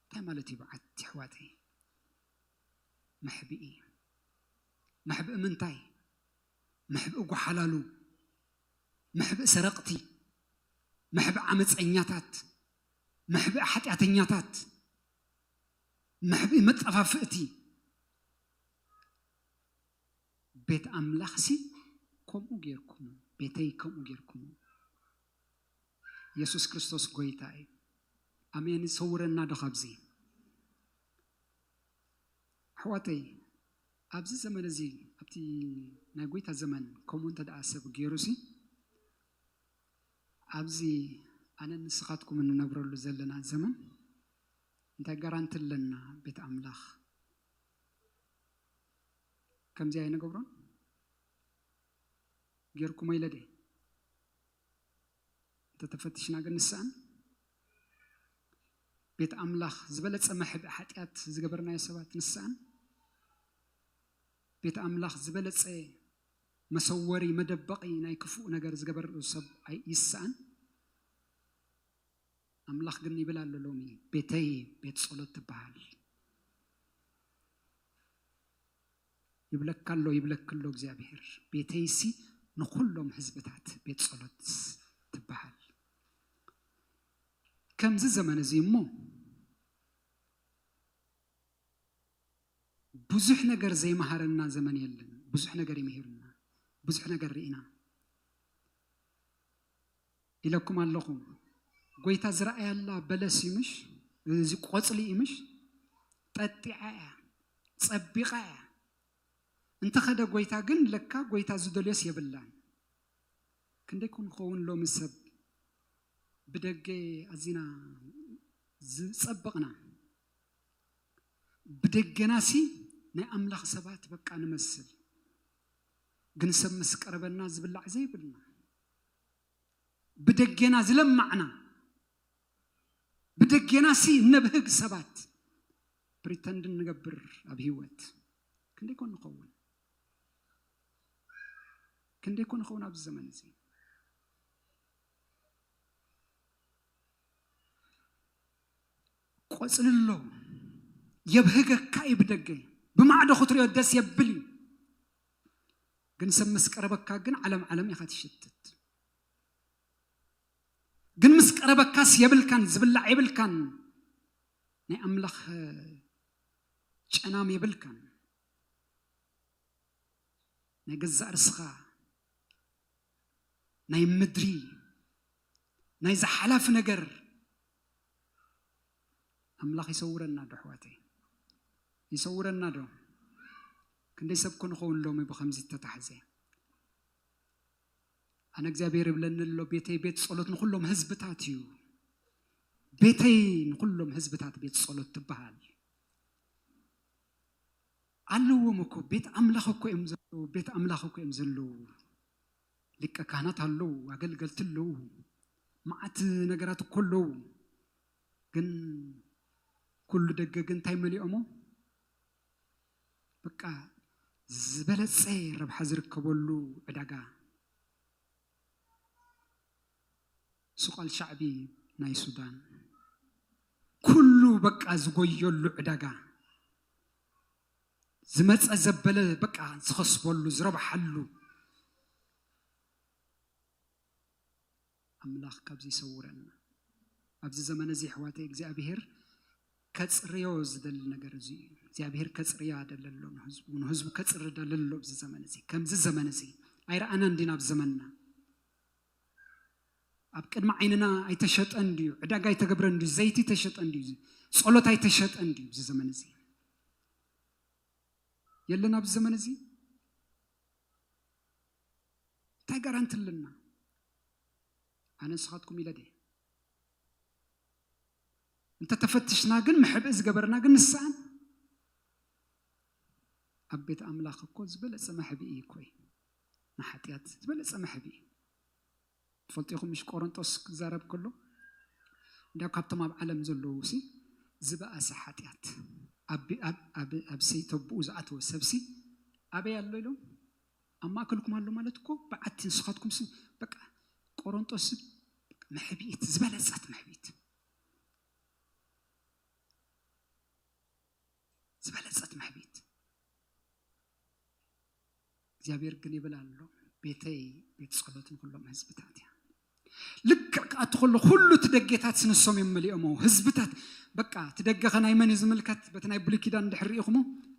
እንታይ ማለት እዩ? በዓቲ ኣሕዋተይ መሕብኢ መሕብኢ ምንታይ? መሕብኢ ጓሓላሉ፣ መሕብኢ ሰረቕቲ፣ መሕብኢ ዓመፀኛታት፣ መሕብኢ ሓጢኣተኛታት፣ መሕብኢ መጠፋፍእቲ ቤት ኣምላኽሲ ከምኡ ጌርኩሞ፣ ቤተይ ከምኡ ጌርኩሞ። የሱስ ክርስቶስ ጎይታ እዩ። ኣሜን። ይሰውረና ዶ ካብዚ? ኣሕዋተይ ኣብዚ ዘመን እዚ ኣብቲ ናይ ጎይታ ዘመን ከምኡ እንተ ደኣ ሰብ ገይሩሲ ኣብዚ ኣነ ንስኻትኩም እንነብረሉ ዘለና ዘመን እንታይ ጋራንቲ ኣለና ቤት ኣምላኽ ከምዚ ኣይንገብሮን ጌርኩሞ ኢለ ድየ እንተተፈትሽና ግን ንስኣን ቤት ኣምላኽ ዝበለጸ መሕብ ሓጢኣት ዝገበርናዮ ሰባት ንስኣን ቤት ኣምላኽ ዝበለጸ መሰወሪ መደበቒ ናይ ክፉእ ነገር ዝገበር ሰብ ይስኣን ኣምላኽ ግን ይብል ኣሎ ሎሚ ቤተይ ቤት ጸሎት ትበሃል ይብለካ ኣሎ ይብለክ ኣሎ እግዚኣብሔር ቤተይሲ ንኩሎም ህዝብታት ቤት ጸሎት ትበሃል ከምዚ ዘመን እዚ እሞ ብዙሕ ነገር ዘይመሃረና ዘመን የለን ብዙሕ ነገር ይምህርና ብዙሕ ነገር ርኢና ኢለኩም ኣለኹ ጎይታ ዝረኣያላ በለስ እዩ ምሽ እዚ ቆጽሊ እዩ ምሽ ጠጢዓ እያ ጸቢቃ እያ እንተኸደ ጎይታ ግን ለካ ጎይታ ዝደልዮስ የብላን ክንደይ ኮን ኸውን ሎሚ ሰብ ብደገ ኣዚና ዝጸበቕና ብደገናሲ ናይ ኣምላኽ ሰባት በቃ ንመስል ግን ሰብ ምስ ቀረበና ዝብላዕ ዘይብልና ብደጌና ዝለማዕና ብደጌና ሲ እነብህግ ሰባት ፕሪተንድ እንገብር ኣብ ሂወት ክንደይ ኮን ንኸውን ክንደይ ኮን ንኸውን ኣብዚ ዘመን እዚ ቆፅሊ ኣሎ የብህገካ እዩ ብደገ ብማዕዶ ክትሪኦ ደስ የብል እዩ ግን ሰብ ምስ ቀረበካ ግን ዓለም ዓለም ኢኻ ትሽትት ግን ምስ ቀረበካስ የብልካን ዝብላዕ የብልካን ናይ ኣምላኽ ጨናም የብልካን ናይ ገዛእ ርስኻ ናይ ምድሪ ናይ ዝሓላፊ ነገር ኣምላኽ ይሰውረና ዶ ኣሕዋተይ ይሰውረና ዶ ክንደይ ሰብ ኮ ንኸውን ሎሚ ብከምዚ እተታሕዘ ኣነ እግዚኣብሔር ይብለኒ ኣሎ ቤተይ ቤት ጸሎት ንኩሎም ህዝብታት እዩ ቤተይ ንኩሎም ህዝብታት ቤት ጸሎት ትበሃል ኣለዎም እኮ ቤት ኣምላኽ እኮ እዮም ዘለዉ ቤት ኣምላኽ እኮ እዮም ዘለዉ ሊቀ ካህናት ኣለው፣ ኣገልገልቲ ኣለው፣ መዓት ነገራት እኮ ኣለው። ግን ኩሉ ደገ ግን እንታይ መሊኦሞ? በቃ ዝበለፀ ረብሓ ዝርከበሉ ዕዳጋ ሱቅ ኣልሻዕቢ ናይ ሱዳን ኩሉ በቃ ዝጎየሉ ዕዳጋ ዝመጸ ዘበለ በቃ ዝኸስበሉ ዝረብሓሉ ኣምላኽ ካብዚ ይሰውረና። ኣብዚ ዘመን እዚ ኣሕዋተይ እግዚኣብሄር ከጽርዮ ዝደሊ ነገር እዚ እዩ። እግዚኣብሄር ከጽርያ ደለ ኣሎ ንህዝቡ ንህዝቡ ከጽሪ ደለ ኣሎ ኣብዚ ዘመን እዚ ከምዚ ዘመን እዚ ኣይረኣናን ዲና ኣብ ዘመንና ኣብ ቅድሚ ዓይንና ኣይተሸጠን ድዩ? ዕዳጋ ኣይተገብረን ድዩ? ዘይቲ ተሸጠን ድዩ? ጸሎት ኣይተሸጠን ድዩ? እዚ ዘመን እዚ የለን። ኣብዚ ዘመን እዚ እንታይ ጋራንቲ ኣለና? ኣነ ንስኻትኩም ኢለ ድየ? እንተተፈትሽና ግን መሕብኢ ዝገበርና ግን ንስኣን ኣብ ቤት ኣምላኽ እኮ ዝበለጸ መሕብኢ እኮ እዩ። ንሓጢኣት ዝበለጸ መሕብኢ እዩ። ትፈልጡ ኢኹም ምሽ ቆሮንጦስ ክዛረብ ከሎ እንዳ ካብቶም ኣብ ዓለም ዘለዉሲ ዝበኣሰ ሓጢኣት ኣብ ሰይተብኡ ዝኣተወ ሰብሲ ኣበይ ኣሎ ኢሎም ኣብ ማእከልኩም ኣሎ ማለት እኮ በዓቲ ንስኻትኩምሲ በቃ ቆሮንጦስ መሕብኢት ዝበለጸት መሕብኢት ዝበለጸት መሕብኢት እግዚኣብሔር ግን ይብል ኣሎ ቤተይ ቤት ጸሎት ንኹሎም ህዝብታት እያ ልክዕ ክኣቱ ከሎ ኩሉ እቲ ደጌታት ስንሶም እዮም መሊኦሞ ህዝብታት በቃ እቲ ደገ ከ ናይ መን እዩ ዝምልከት በቲ ናይ ብሉይ ኪዳን እንድሕር ርኢኹሞ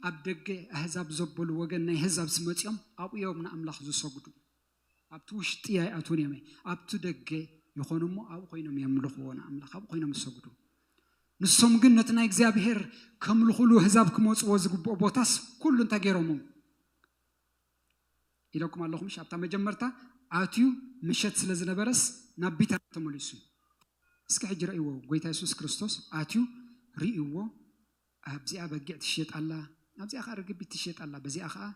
ኣብ ደገ ኣህዛብ ዘበሉ ወገን ናይ ኣህዛብ ስመፂኦም ኣብኡ እዮም ንኣምላኽ ዝሰግዱ ኣብቲ ውሽጢ ኣይኣትዉን እዮም፣ ኣብቲ ደገ ይዀኑ እሞ፣ ኣብኡ ዀይኖም የምልኽዎ ንኣምላኽ፣ ኣብኡ ዀይኖም ይሰግዱ። ንሶም ግን ነቲ ናይ እግዚኣብሄር ከምልኹሉ ኣህዛብ ክመጽዎ ዝግብኦ ቦታስ ኩሉ እንታይ ገይሮሞ ኢለኩም ኣለኹ ምሽ ኣብታ መጀመርታ ኣትዩ ምሸት ስለ ዝነበረስ ናብ ቢታንያ ተመሊሱ እስኪ ሕጂ ረእይዎ ጎይታ የሱስ ክርስቶስ ኣትዩ ርእይዎ ኣብዚኣ በጊዕ ትሽየጥ ኣላ፣ ኣብዚኣ ኸኣ ርግቢት ትሽየጥ ኣላ፣ በዚኣ ኸኣ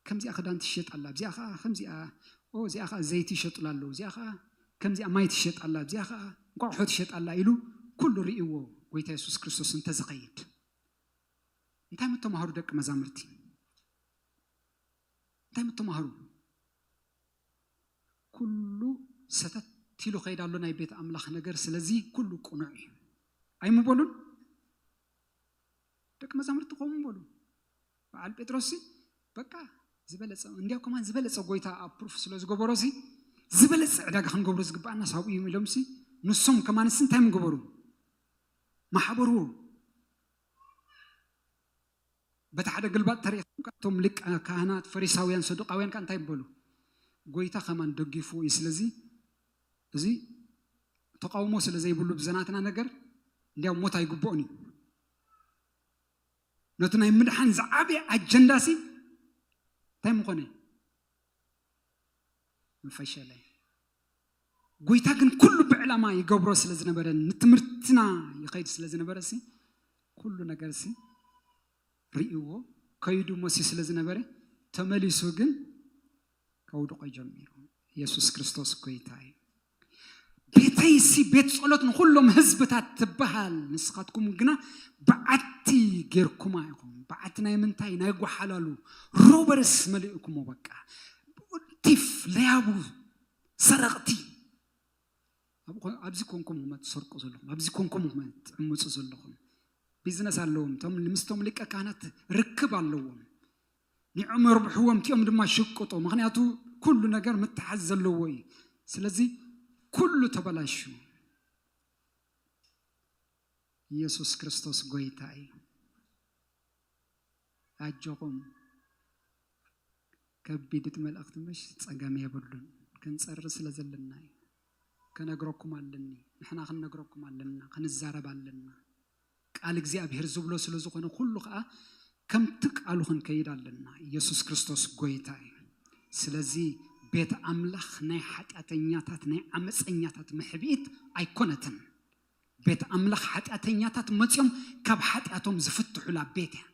ከምዚኣ ኽዳን ትሽየጥ ኣላ፣ ኣብዚኣ ኸኣ ኸምዚኣ፣ ኦ እዚኣ ኸኣ ዘይቲ ይሸጡላ ኣለዉ፣ እዚኣ ኸኣ ከምዚኣ ማይ ትሽየጥ ኣላ፣ ኣብዚኣ ኸኣ እንቋቑሖ ትሽየጥ ኣላ ኢሉ ኩሉ ርእይዎ ጐይታ የሱስ ክርስቶስ እንተ ዝኸይድ እንታይ ምተማህሩ ደቂ መዛሙርቲ እንታይ ምተማህሩ? ኩሉ ሰተት ኢሉ ከይድ ኣሎ ናይ ቤት ኣምላኽ ነገር ስለዚ ኩሉ ቅኑዕ እዩ ኣይምበሉን ደቂ መዛሙርቲ ከምኡ በሉ በዓል ጴጥሮስ በቃ ዝበለፀ እንዲያው ከማን ዝበለፀ ጎይታ ኣብ ፕሩፍ ስለ ዝገበሮ ሲ ዝበለፀ ዕዳጋ ክንገብሮ ዝግባኣና ሳብኡ እዩ ኢሎም ሲ ንሶም ከማንስ እንታይ ምገበሩ ማሕበሩ በቲ ሓደ ግልባጥ ተሪኢካ ከኣ እቶም ሊቀ ካህናት ፈሪሳውያን ሰዱቃውያን ከኣ እንታይ በሉ ጎይታ ከማን ደጊፍዎ እዩ ስለዚ እዚ ተቃውሞ ስለ ዘይብሉ ብዘናትና ነገር እንዲያው ሞት ኣይግብኦን እዩ ነቲ ናይ ምድሓን ዝዓበየ ኣጀንዳ ሲ እንታይ ምኾነ ምፈሸለ ጎይታ ግን ኩሉ ብዕላማ ይገብሮ ስለ ዝነበረ ንትምህርትና ይኸይድ ስለ ዝነበረ ሲ ኩሉ ነገር ሲ ርእይዎ ከይዱ መሲዩ ስለ ዝነበረ ተመሊሱ ግን ከውድቆ ጀሚሩ ኢየሱስ ክርስቶስ ጎይታ እዩ ቤተይሲ ቤት ጸሎት ንኹሎም ህዝብታት ትበሃል ንስኻትኩም ግና በዓቲ ጌርኩማ ኢኹም በዓቲ ናይ ምንታይ ናይ ጓሓላሉ ሮበርስ መሊእኩሞ በቃ ቲፍ ለያቡ ሰረቕቲ ኣብዚ ኮንኩም ኹም ትሰርቁ ዘለኹም ኣብዚ ኮንኩም ኹም ትዕምፁ ዘለኹም ቢዝነስ ኣለዎም እቶም ምስቶም ሊቀ ካህናት ርክብ ኣለዎም ንዕኦም የርብሕዎም እቲኦም ድማ ሽቅጦ ምክንያቱ ኩሉ ነገር ምትሓዝ ዘለዎ እዩ ስለዚ ኩሉ ተበላሹ ኢየሱስ ክርስቶስ ጎይታ እዩ ኣጆኹም ከቢድት መልእኽቲ ምሽ ጸገም የብሉን ክንጸሪ ስለ ዘለና እዩ ከነግረኩም ኣለኒ ንሕና ክንነግረኩም ኣለና ክንዛረብ ኣለና ቃል እግዚኣብሔር ዝብሎ ስለ ዝኾነ ኩሉ ከኣ ከምቲ ቃሉ ክንከይድ ኣለና ኢየሱስ ክርስቶስ ጎይታ እዩ ስለዚ ቤት ኣምላኽ ናይ ሓጢኣተኛታት ናይ ዓመፀኛታት መሕብኢት ኣይኮነትን ቤት ኣምላኽ ሓጢኣተኛታት መጺኦም ካብ ሓጢኣቶም ዝፍትሑላ ቤት እያ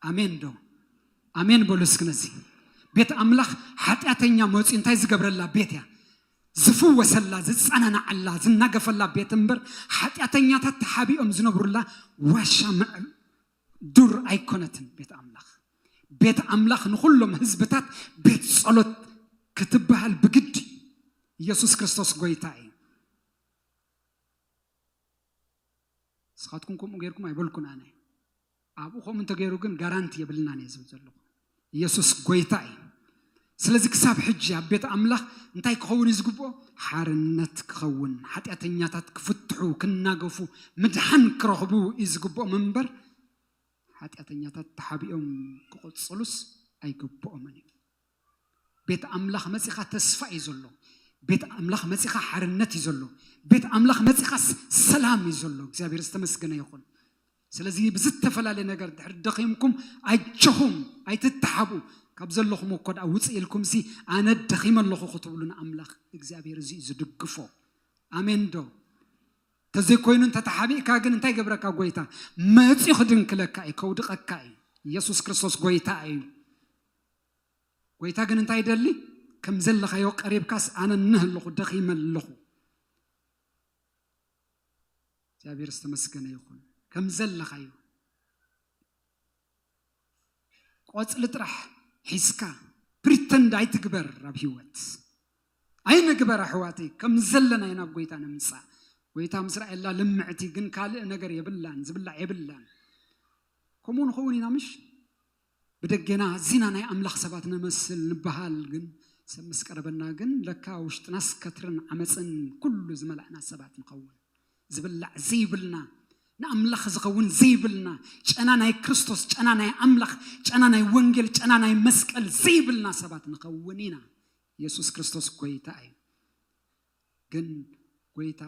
ኣሜን ዶ ኣሜን በሉ እስኪ ነዚ ቤት ኣምላኽ ሓጢኣተኛ መጺኡ እንታይ ዝገብረላ ቤት እያ ዝፍወሰላ ዝጸናናዓላ ዝናገፈላ ቤት እምበር ሓጢኣተኛታት ተሓቢኦም ዝነብሩላ ዋሻ ምዕብ ዱር ኣይኮነትን ቤት ኣምላኽ ቤት ኣምላኽ ንኹሎም ህዝብታት ቤት ጸሎት ክትበሃል ብግዲ ኢየሱስ ክርስቶስ ጎይታ እዩ ንስኻትኩም ከምኡ ጌርኩም ኣይበልኩን ኣነ ኣብኡ ከምኡ እንተገይሩ ግን ጋራንቲ የብልናን እየ ዝብል ዘለኹ ኢየሱስ ጎይታ እዩ ስለዚ ክሳብ ሕጂ ኣብ ቤት ኣምላኽ እንታይ ክኸውን እዩ ዝግብኦ ሓርነት ክኸውን ሓጢኣተኛታት ክፍትሑ ክናገፉ ምድሓን ክረኽቡ እዩ ዝግብኦም እምበር ሓጢኣተኛታት ተሓቢኦም ክቕፅሉስ ኣይግብኦምን እዩ ቤት ኣምላኽ መጺኻ ተስፋ እዩ ዘሎ ቤት ኣምላኽ መጺኻ ሓርነት እዩ ዘሎ ቤት ኣምላኽ መጺኻ ሰላም እዩ ዘሎ እግዚኣብሔር ዝተመስገነ ይኹን ስለዚ ብዝተፈላለየ ነገር ድሕሪ ደኺምኩም ኣጆኹም ኣይትተሓብኡ ካብ ዘለኹም እኮ ድኣ ውፅእ ኢልኩም ሲ ኣነ ደኺመ ኣለኹ ክትብሉ ንኣምላኽ እግዚኣብሔር እዚ እዩ ዝድግፎ ኣሜን ዶ ተዘይኮይኑ እንተተሓቢእካ ግን እንታይ ገብረካ ጎይታ መፅኡ ክድንክለካ እዩ ከውድቐካ እዩ ኢየሱስ ክርስቶስ ጎይታ እዩ ጐይታ ግን እንታይ ይደሊ? ከም ዘለኻዮ ቀሪብካስ ኣነ እነህ ኣለኹ፣ ደኺመ ኣለኹ። እግዚኣብሔር ዝተመስገነ ይኹን። ከም ዘለኻዮ ቆፅሊ ጥራሕ ሒዝካ ፕሪተንድ ኣይትግበር ኣብ ህይወት ኣይንግበር ኣሕዋተይ ከም ዘለና ኢና ኣብ ጎይታ ንምፃእ ጎይታ ምስ ራእየላ ልምዕቲ ግን ካልእ ነገር የብላን ዝብላዕ የብላን ከምኡ ንኸውን ኢና ምሽ ብደጌና ኣዚና ናይ ኣምላኽ ሰባት ንመስል ንበሃል ግን ሰብ ምስ ቀረበና ግን ለካ ውሽጥናስ ከትርን ዓመጽን ኩሉ ዝመላእና ሰባት ንኸውን። ዝብላዕ ዘይብልና ንኣምላኽ ዝኸውን ዘይብልና ጨና ናይ ክርስቶስ ጨና ናይ ኣምላኽ ጨና ናይ ወንጌል ጨና ናይ መስቀል ዘይብልና ሰባት ንኸውን ኢና። የሱስ ክርስቶስ ጎይታ እዩ። ግን ጎይታ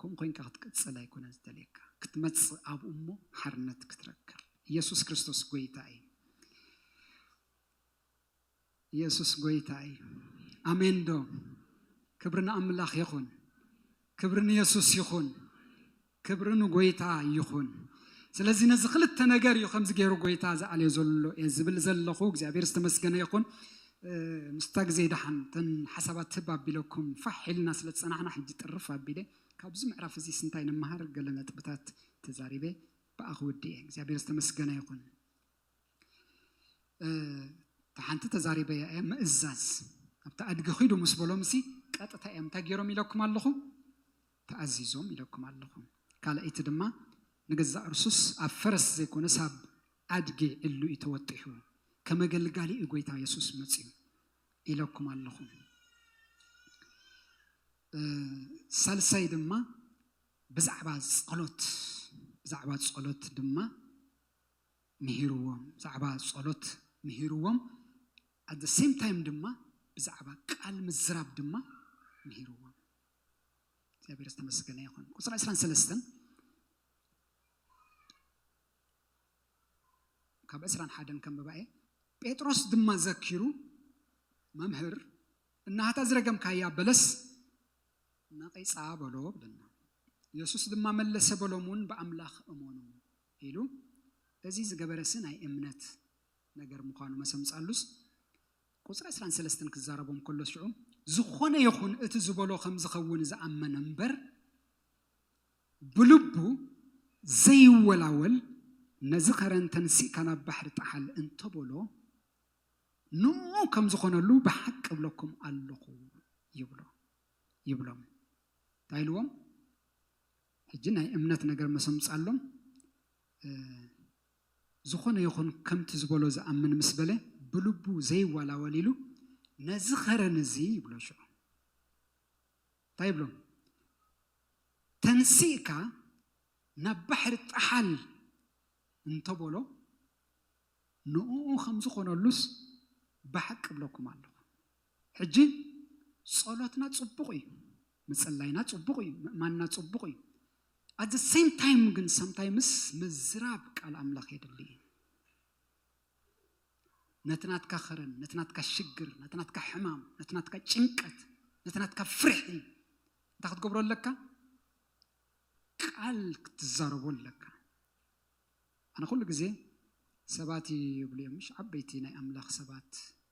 ከምኡ ኮይንካ ክትቅጽል ኣይኮነን ዝደልየካ ክትመጽእ ኣብኡ እሞ ሓርነት ክትረክብ ኢየሱስ ክርስቶስ ጎይታ እዩ ኢየሱስ ጎይታ እዩ ኣሜን ዶ ክብሪ ንኣምላኽ ይኹን ክብሪ ንየሱስ ይኹን ክብሪ ንጎይታ ይኹን ስለዚ ነዚ ክልተ ነገር እዩ ከምዚ ገይሩ ጎይታ ዝኣልዮ ዘሎ እየ ዝብል ዘለኹ እግዚኣብሔር ዝተመስገነ ይኹን ምስታ ግዜ ደሓን ተን ሓሳባት ትብ ኣቢለኩም ፋሕ ኢልና ስለ ዝፀናሕና ሕጂ ጥርፍ ኣቢለ ካብዚ ምዕራፍ እዚ ስንታይ ንመሃር ገለ ነጥብታት ተዛሪበ ብኣ ክውድእ እየ እግዚኣብሔር ዝተመስገነ ይኹን ተሓንቲ ተዛሪበ እያ እያ ምእዛዝ ኣብቲ ኣድጊ ኺዱ ምስ በሎምሲ ቀጥታ እዮም እንታይ ገይሮም ኢለኩም ኣለኹ ተኣዚዞም ኢለኩም ኣለኹ። ካልኣይቲ ድማ ንገዛእ ርሱስ ኣብ ፈረስ ዘይኮነስ ኣብ ኣድጊ ዕሉ እዩ ተወጢሑ፣ ከም ኣገልጋሊ እዩ ጎይታ የሱስ መጺኡ ኢለኩም ኣለኹ። ሳልሳይ ድማ ብዛዕባ ጸሎት ብዛዕባ ጸሎት ድማ ምሂርዎም ብዛዕባ ጸሎት ምሂርዎም ኣት ሴም ታይም ድማ ብዛዕባ ቃል ምዝራብ ድማ ምሂርዎም እግዚኣብሔር ዝተመስገነ ይኹን ቁፅሪ ዕስራን ሰለስተን ካብ ዕስራን ሓደን ከንብባ እየ ጴጥሮስ ድማ ዘኪሩ መምህር እናሃታ ዝረገምካያ በለስ ነቂፃ በሎ ብለና ኢየሱስ ድማ መለሰ በሎም እውን ብኣምላኽ እመኑ ኢሉ እዚ ዝገበረሲ ናይ እምነት ነገር ምዃኑ መሰምፃሉስ ቁጽሪ ዕስራን ሰለስተን ክዛረቦም ከሎ ሽዑ ዝኾነ ይኹን እቲ ዝበሎ ከም ዝኸውን ዝኣመነ እምበር ብልቡ ዘይወላወል ነዚ ከረን ተንሲእካ ናብ ባሕሪ ጠሓል እንተበሎ ንኡ ከም ዝኾነሉ ብሓቂ እብለኩም ኣለኹ ይብሎ ይብሎም እንታይ ኢልዎም ሕጂ ናይ እምነት ነገር መሰምጻሎም ዝኾነ ይኹን ከምቲ ዝበሎ ዝኣምን ምስ በለ ብልቡ ዘይዋላወል ኢሉ ነዚ ኸረን እዚ ይብሎ ሽዑ እንታይ ይብሎ ተንሲእካ ናብ ባሕሪ ጥሓል እንተበሎ ንእኡ ከምዝኾነሉስ ባሕ ክብለኩም ኣለኹ ሕጂ ጸሎትና ጽቡቕ እዩ ምጽላይና ጽቡቕ እዩ ምእማንና ጽቡቕ እዩ ኣት ዘ ሴም ታይም ግን ሳምታይምስ ምዝራብ ቃል ኣምላኽ የድሊ እዩ ነቲ ናትካ ኸረን ነቲ ናትካ ሽግር ነቲ ናትካ ሕማም ነቲ ናትካ ጭንቀት ነቲ ናትካ ፍርሒ እንታይ ክትገብሮ ኣለካ ቃል ክትዛረቦ ኣለካ ኣነ ኩሉ ግዜ ሰባት እዩ ይብሉ እዮም ምሽ ዓበይቲ ናይ ኣምላኽ ሰባት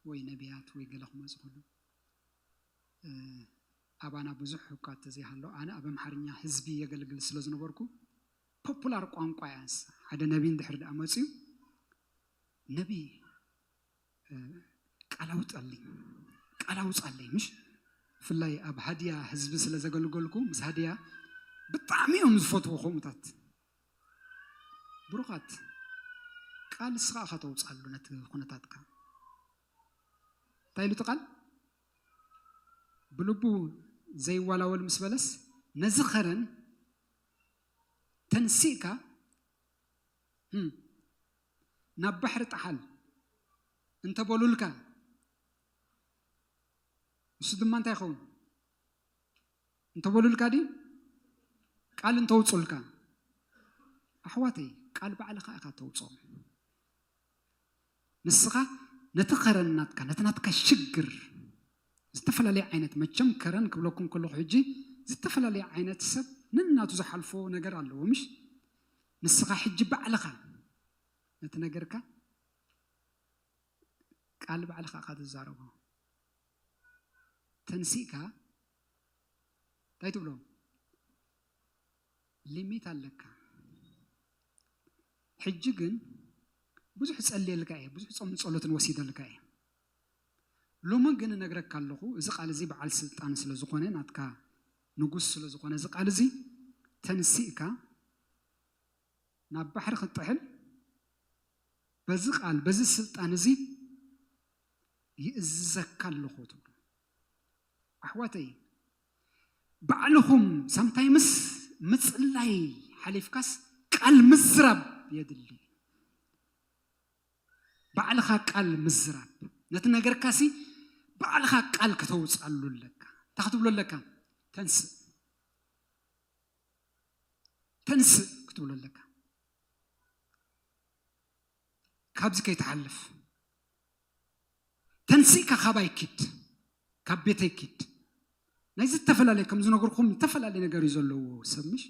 ወይ ነብያት ወይ ገለ ክመጹ ከለዉ ኣባና ብዙሕ እኳ ተዘይሃሎ ኣነ ኣብ ኣምሓርኛ ህዝቢ የገልግል ስለ ዝነበርኩ ፖፑላር ቋንቋ እያ ንሳ ሓደ ነቢ እንድሕር ደኣ መጽዩ ነቢ ቃል ኣውጣለይ ቃል ኣውጻለይ ምሽ ብፍላይ ኣብ ሃድያ ህዝቢ ስለ ዘገልገልኩ ምስ ሃድያ ብጣዕሚ እዮም ዝፈትዎ ከምኡታት ብሩኻት ቃል እስኻ እኻ ተውጻሉ ነቲ ኩነታትካ እንታይ ኢሉ እቲ ቃል ብልቡ ዘይዋላወል ምስ በለስ ነዚ ኸረን ተንሲእካ ናብ ባሕሪ ጣሓል እንተበሉልካ ንሱ ድማ እንታይ ይኸውን እንተበሉልካ ድዩ ቃል እንተውፁልካ ኣሕዋተይ ቃል ባዕልኻ ኢኻ ተውፅኦ ንስኻ ነቲ ከረን ናትካ ነቲ ናትካ ሽግር ዝተፈላለየ ዓይነት መቸም ከረን ክብለኩም ከለኹ ሕጂ ዝተፈላለየ ዓይነት ሰብ ነናቱ ዝሓልፎ ነገር ኣለዎ ምሽ ንስኻ ሕጂ ባዕልኻ ነቲ ነገርካ ቃል ባዕልኻ ኢኻ ትዛረቦ ተንሲእካ እንታይ ትብሎ ሊሚት ኣለካ ሕጂ ግን ብዙሕ ጸልየልካ እየ ብዙሕ ጾምን ጸሎትን ወሲደልካ እየ ሎሚ ግን እነግረካ ኣለኹ እዚ ቃል እዚ በዓል ስልጣን ስለ ዝኾነ ናትካ ንጉስ ስለ ዝኾነ እዚ ቃል እዚ ተንሲእካ ናብ ባሕሪ ክትጥሕል በዚ ቃል በዚ ስልጣን እዚ ይእዝዘካ ኣለኹ ትብሉ ኣሕዋተይ ባዕልኹም ሳምታይምስ ምጽላይ ሓሊፍካስ ቃል ምዝራብ የድሊ ባዕልኻ ቃል ምዝራብ ነቲ ነገርካሲ ባዕልኻ ቃል ከተውፅኣሉ ኣለካ እንታይ ክትብሎ ኣለካ ተንስእ ተንስእ ክትብሎ ኣለካ ካብዚ ከይትሓልፍ ተንሲእካ ካባይ ኪድ ካብ ቤተይ ኪድ ናይ ዝተፈላለየ ከም ዝነገርኩም ዝተፈላለየ ነገር እዩ ዘለዎ ሰብ ምሽ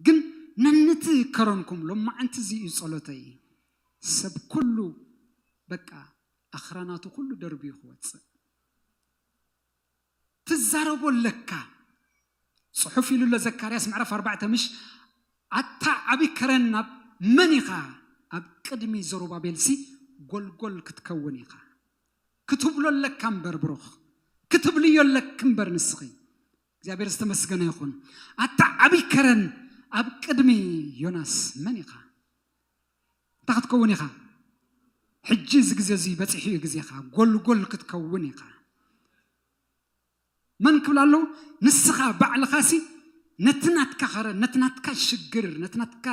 ግን ነንቲ ከረንኩም ሎማዓንቲ እዚ እዩ ጸሎተይ ሰብ ኩሉ በቃ ኣኽራናቱ ኩሉ ደርብዩ ክወጽእ ትዛረቦ ኣለካ ጽሑፍ ኢሉ ኣሎ ዘካርያስ ምዕራፍ ኣርባዕተ ምሽ ኣታ ዓቢ ከረን ኣብ መን ኢኻ ኣብ ቅድሚ ዘሩባቤልሲ ጎልጎል ክትከውን ኢኻ ክትብሎ ኣለካ እምበር ብሩኽ ክትብልዮ ኣለክ እምበር ንስኺ እግዚኣብሔር ዝተመስገነ ይኹን ኣታ ዓቢ ከረን ኣብ ቅድሚ ዮናስ መን ኢኻ እንታይ ክትከውን ኢኻ? ሕጂ እዚ ግዜ እዚ በጺሑ እዩ ግዜኻ፣ ጎልጎል ክትከውን ኢኻ። መን ክብላ ኣለዉ? ንስኻ ባዕልኻሲ ነቲ ናትካ ኸረ፣ ነቲ ናትካ ሽግር፣ ነቲ ናትካ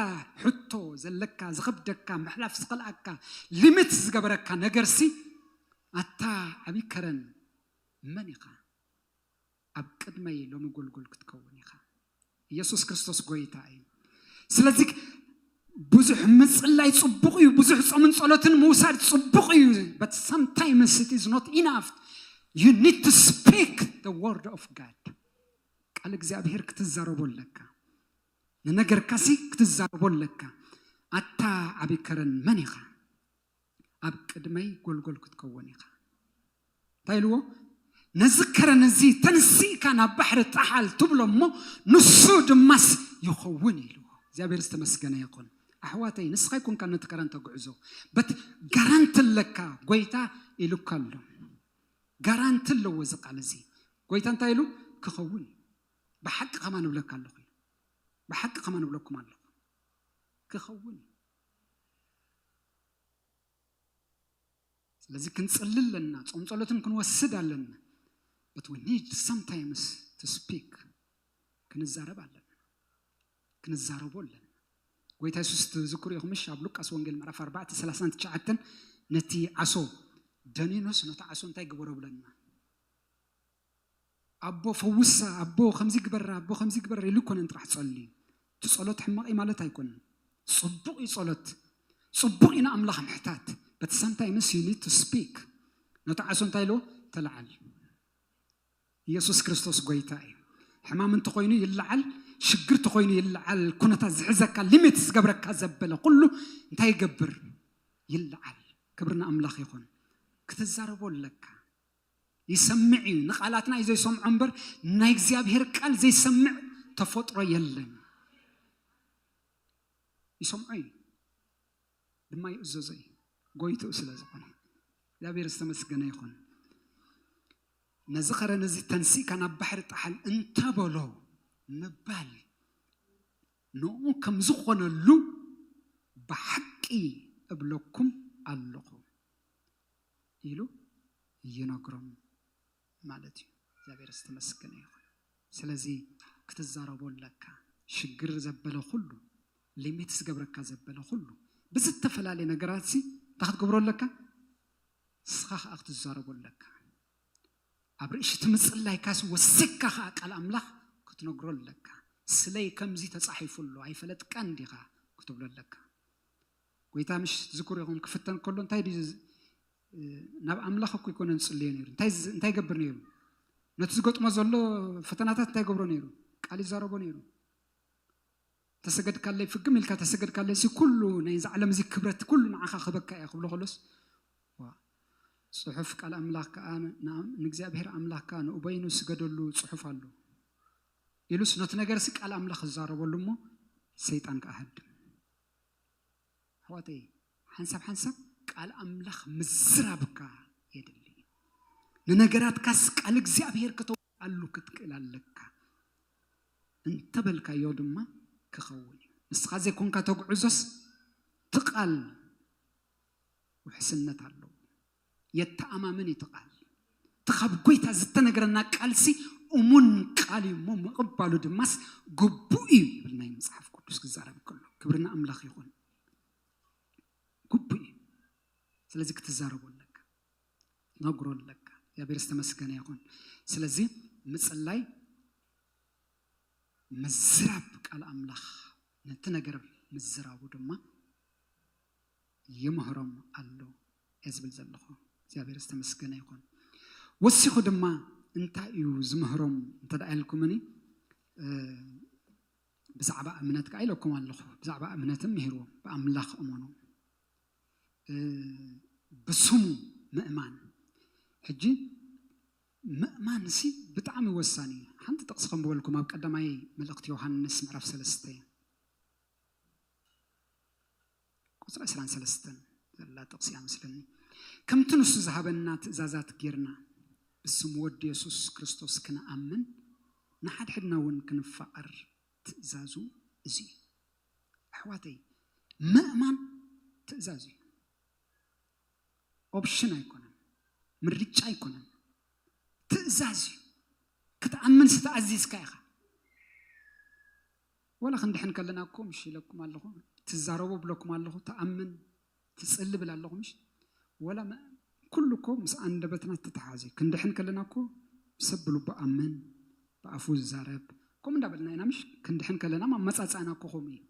ሕቶ ዘለካ፣ ዝኸብደካ፣ ምሕላፍ ዝኸልኣካ፣ ሊሚት ዝገበረካ ነገርሲ ኣታ ዓብዪ ከረን መን ኢኻ? ኣብ ቅድመይ ሎሚ ጎልጎል ክትከውን ኢኻ ኢየሱስ ክርስቶስ ጎይታ እዩ ስለዚ ብዙሕ ምጽላይ ጽቡቕ እዩ ብዙሕ ጾምን ጸሎትን ምውሳድ ጽቡቕ እዩ በት ሳምታይምስ ኢት ኢዝ ኖት ኢናፍ ዩ ኒድ ቱ ስፒክ ደ ወርድ ኦፍ ጋድ ቃል እግዚኣብሄር ክትዛረቦ ኣለካ ንነገርካሲ ክትዛረቦ ኣለካ ኣታ ዓብይ ከረን መን ኢኻ ኣብ ቅድመይ ጎልጎል ክትከውን ኢኻ። እንታይ ኢልዎ? ነዚ ከረን እዚ ተንሲእካ ናብ ባሕሪ ጣሓል ትብሎ እሞ ንሱ ድማስ ይኸውን ኢልዎ። እግዚኣብሔር ዝተመስገነ ይኹን። ኣሕዋተይ ንስኻ ኣይኮንካ ነቲ ከረን ተግዕዞ በት ጋራንቲ ኣለካ ጎይታ ኢሉካ ኣሎ። ጋራንቲ ኣለዎ እዚ ቃል እዚ ጎይታ እንታይ ኢሉ ክኸውን እዩ። ብሓቂ ከማ ንብለካ ኣለኹ ብሓቂ ከማ ንብለኩም ኣለኹ ክኸውን እዩ። ስለዚህ ክንጽል ኣለና ጾም ጸሎትን ክንወስድ ኣለና በት ዊ ኒድ ሰምታይምስ ቱ ስፒክ ክንዛረብ ኣለና ክንዛረቦ ኣለና ጎይታ የሱስ ትዝክሩ ኢኹም እሺ ኣብ ሉቃስ ወንጌል ምዕራፍ 4 39 ነቲ ዓሶ ደኒኖስ ነቲ ዓሶ እንታይ ግበሮ ብለና ኣቦ ፈውሳ ኣቦ ከምዚ ግበራ ኣቦ ከምዚ ግበራ ኢሉ ኮነን ጥራሕ ጸልዩ እቲ ጸሎት ሕማቕ እዩ ማለት ኣይኮነን ጽቡቕ እዩ ጸሎት ጽቡቕ እዩ ንኣምላኽ ምሕታት በት ሳምታይምስ ዩ ኒድ ቱ ስፒክ ነቲ ዓሶ እንታይ ኢልዎ ተለዓል ኢየሱስ ክርስቶስ ጎይታ እዩ ሕማም እንተኾይኑ ይለዓል ሽግር ተኾይኑ ይለዓል ኩነታት ዝሕዘካ ሊሚት ዝገብረካ ዘበለ ኩሉ እንታይ ይገብር ይለዓል ክብሪ ንኣምላኽ ይኹን ክትዛረቦ ኣለካ ይሰምዕ እዩ። ንቃላትና እዩ ዘይሰምዖ እምበር ናይ እግዚኣብሔር ቃል ዘይሰምዕ ተፈጥሮ የለን። ይሰምዖ እዩ ድማ ይእዘዞ እዩ ጎይትኡ ስለ ዝኾነ እግዚኣብሔር ዝተመስገነ ይኹን። ነዚ ከረን እዚ ተንሲእካ ናብ ባሕሪ ጣሓል እንተበሎ ምባል ንኡ ከም ዝኾነሉ ብሓቂ እብለኩም ኣለኹ። ኢሉ ይነግሮም ማለት እዩ እግዚኣብሔር ዝተመስገነ ይኹን ስለዚ ክትዛረቦ ኣለካ ሽግር ዘበለ ኩሉ ሊሚት ዝገብረካ ዘበለ ኩሉ ብዝተፈላለየ ነገራት ሲ እንታይ ክትገብሮ ኣለካ ንስኻ ከዓ ክትዛረቦ ኣለካ ኣብ ርእሲ እቲ ምፅላይካሲ ወሲካ ከዓ ቃል ኣምላኽ ክትነግሮ ኣለካ ስለይ ከምዚ ተፃሒፉ ኣሎ ኣይፈለጥካን ዲኻ ክትብሎ ኣለካ ጎይታ ምሽ ዝክሩ ኢኹም ክፍተን ከሎ እንታይ ድዩ ናብ ኣምላኽ እኮ ይኮነ ዝጽልዮ ነይሩ እንታይ እንታይ ገብር ነይሩ ነቲ ዝገጥሞ ዘሎ ፈተናታት እንታይ ገብሮ ነይሩ ቃል ይዛረቦ ነይሩ ተሰገድካለይ ፍግም ኢልካ ተሰገድካለይ ሲ ኩሉ ናይ እዚ ዓለም እዚ ክብረት ኩሉ ንዓኻ ክበካ እያ ክብሎ ከሎስ ጽሑፍ ቃል ኣምላኽ ከዓ ንእግዚኣብሔር ኣምላኽ ከዓ ንኡበይኑ ስገደሉ ጽሑፍ ኣሎ ኢሉስ ነቲ ነገር ሲ ቃል ኣምላኽ ዝዛረበሉ እሞ ሰይጣን ከዓ ሃድም ኣሕዋተይ ሓንሳብ ሓንሳብ ቃል ኣምላኽ ምዝራብካ የድሊ እዩ። ንነገራትካስ ቃል እግዚኣብሔር ከተውዓሉ ክትክእል ኣለካ እንተበልካዮ ድማ ክኸውን እዩ። ንስኻ ዘይኮንካ ተጉዕዞስ ትቃል ውሕስነት ኣለዎ። የተኣማምን ኢቲ ቃል። እቲ ካብ ጎይታ ዝተነግረና ቃልሲ እሙን ቃል እዩ እሞ ምቕባሉ ድማስ ግቡእ እዩ ይብልና እዩ መጽሓፍ ቅዱስ ክዛረብ ከሎ። ክብሪ ንኣምላኽ ይኹን። ግቡእ እዩ። ስለዚ ክትዛረቦ ኣለካ። ነግሮ ኣለካ። እግዚኣብሔር ዝተመስገነ ይኹን። ስለዚ ምጽላይ ምዝራብ ቃል ኣምላኽ ነቲ ነገር ምዝራቡ ድማ ይምህሮም ኣሎ እየ ዝብል ዘለኹ። እግዚኣብሔር ዝተመስገነ ይኹን። ወሲኹ ድማ እንታይ እዩ ዝምህሮም እንተ ደኣ ኢልኩምኒ ብዛዕባ እምነት ከዓ ኢለኩም ኣለኹ። ብዛዕባ እምነትን ምሂርዎም ብኣምላኽ እመኑ ብስሙ ምእማን ሕጂ ምእማን ሲ ብጣዕሚ ወሳኒ እዩ። ሓንቲ ጥቕሲ ከምበልኩም ኣብ ቀዳማይ መልእኽቲ ዮሃንስ ምዕራፍ ሰለስተ ቁጽሪ ዕስራን ሰለስተን ዘላ ጥቕሲ እያ መስለኒ። ከምቲ ንሱ ዝሃበና ትእዛዛት ጌርና ብስም ወዱ የሱስ ክርስቶስ ክንኣምን ንሓድሕድና እውን ክንፋቐር ትእዛዙ እዚ እዩ። ኣሕዋተይ ምእማን ትእዛዝ እዩ። ኦፕሽን ኣይኮነን፣ ምርጫ ኣይኮነን፣ ትእዛዝ እዩ። ክትኣምን ዝተኣዚዝካ ኢኻ። ወላ ክንድሕን ከለና እኮ ምሽ ኢለኩም ኣለኹ ትዛረቡ እብለኩም ኣለኹ ትኣምን ትጽሊ እብል ኣለኹ ምሽ ወላ ኩሉ እኮ ምስ ኣንደበትና ዝተተሓሓዘ እዩ ክንድሕን ከለና እኮ ሰብ ብልቡ ኣምን ብኣፉ ዝዛረብ ከምኡ እንዳበልና ኢና ምሽ ክንድሕን ከለና ኣመጻጽኣና እኮ ከምኡ እዩ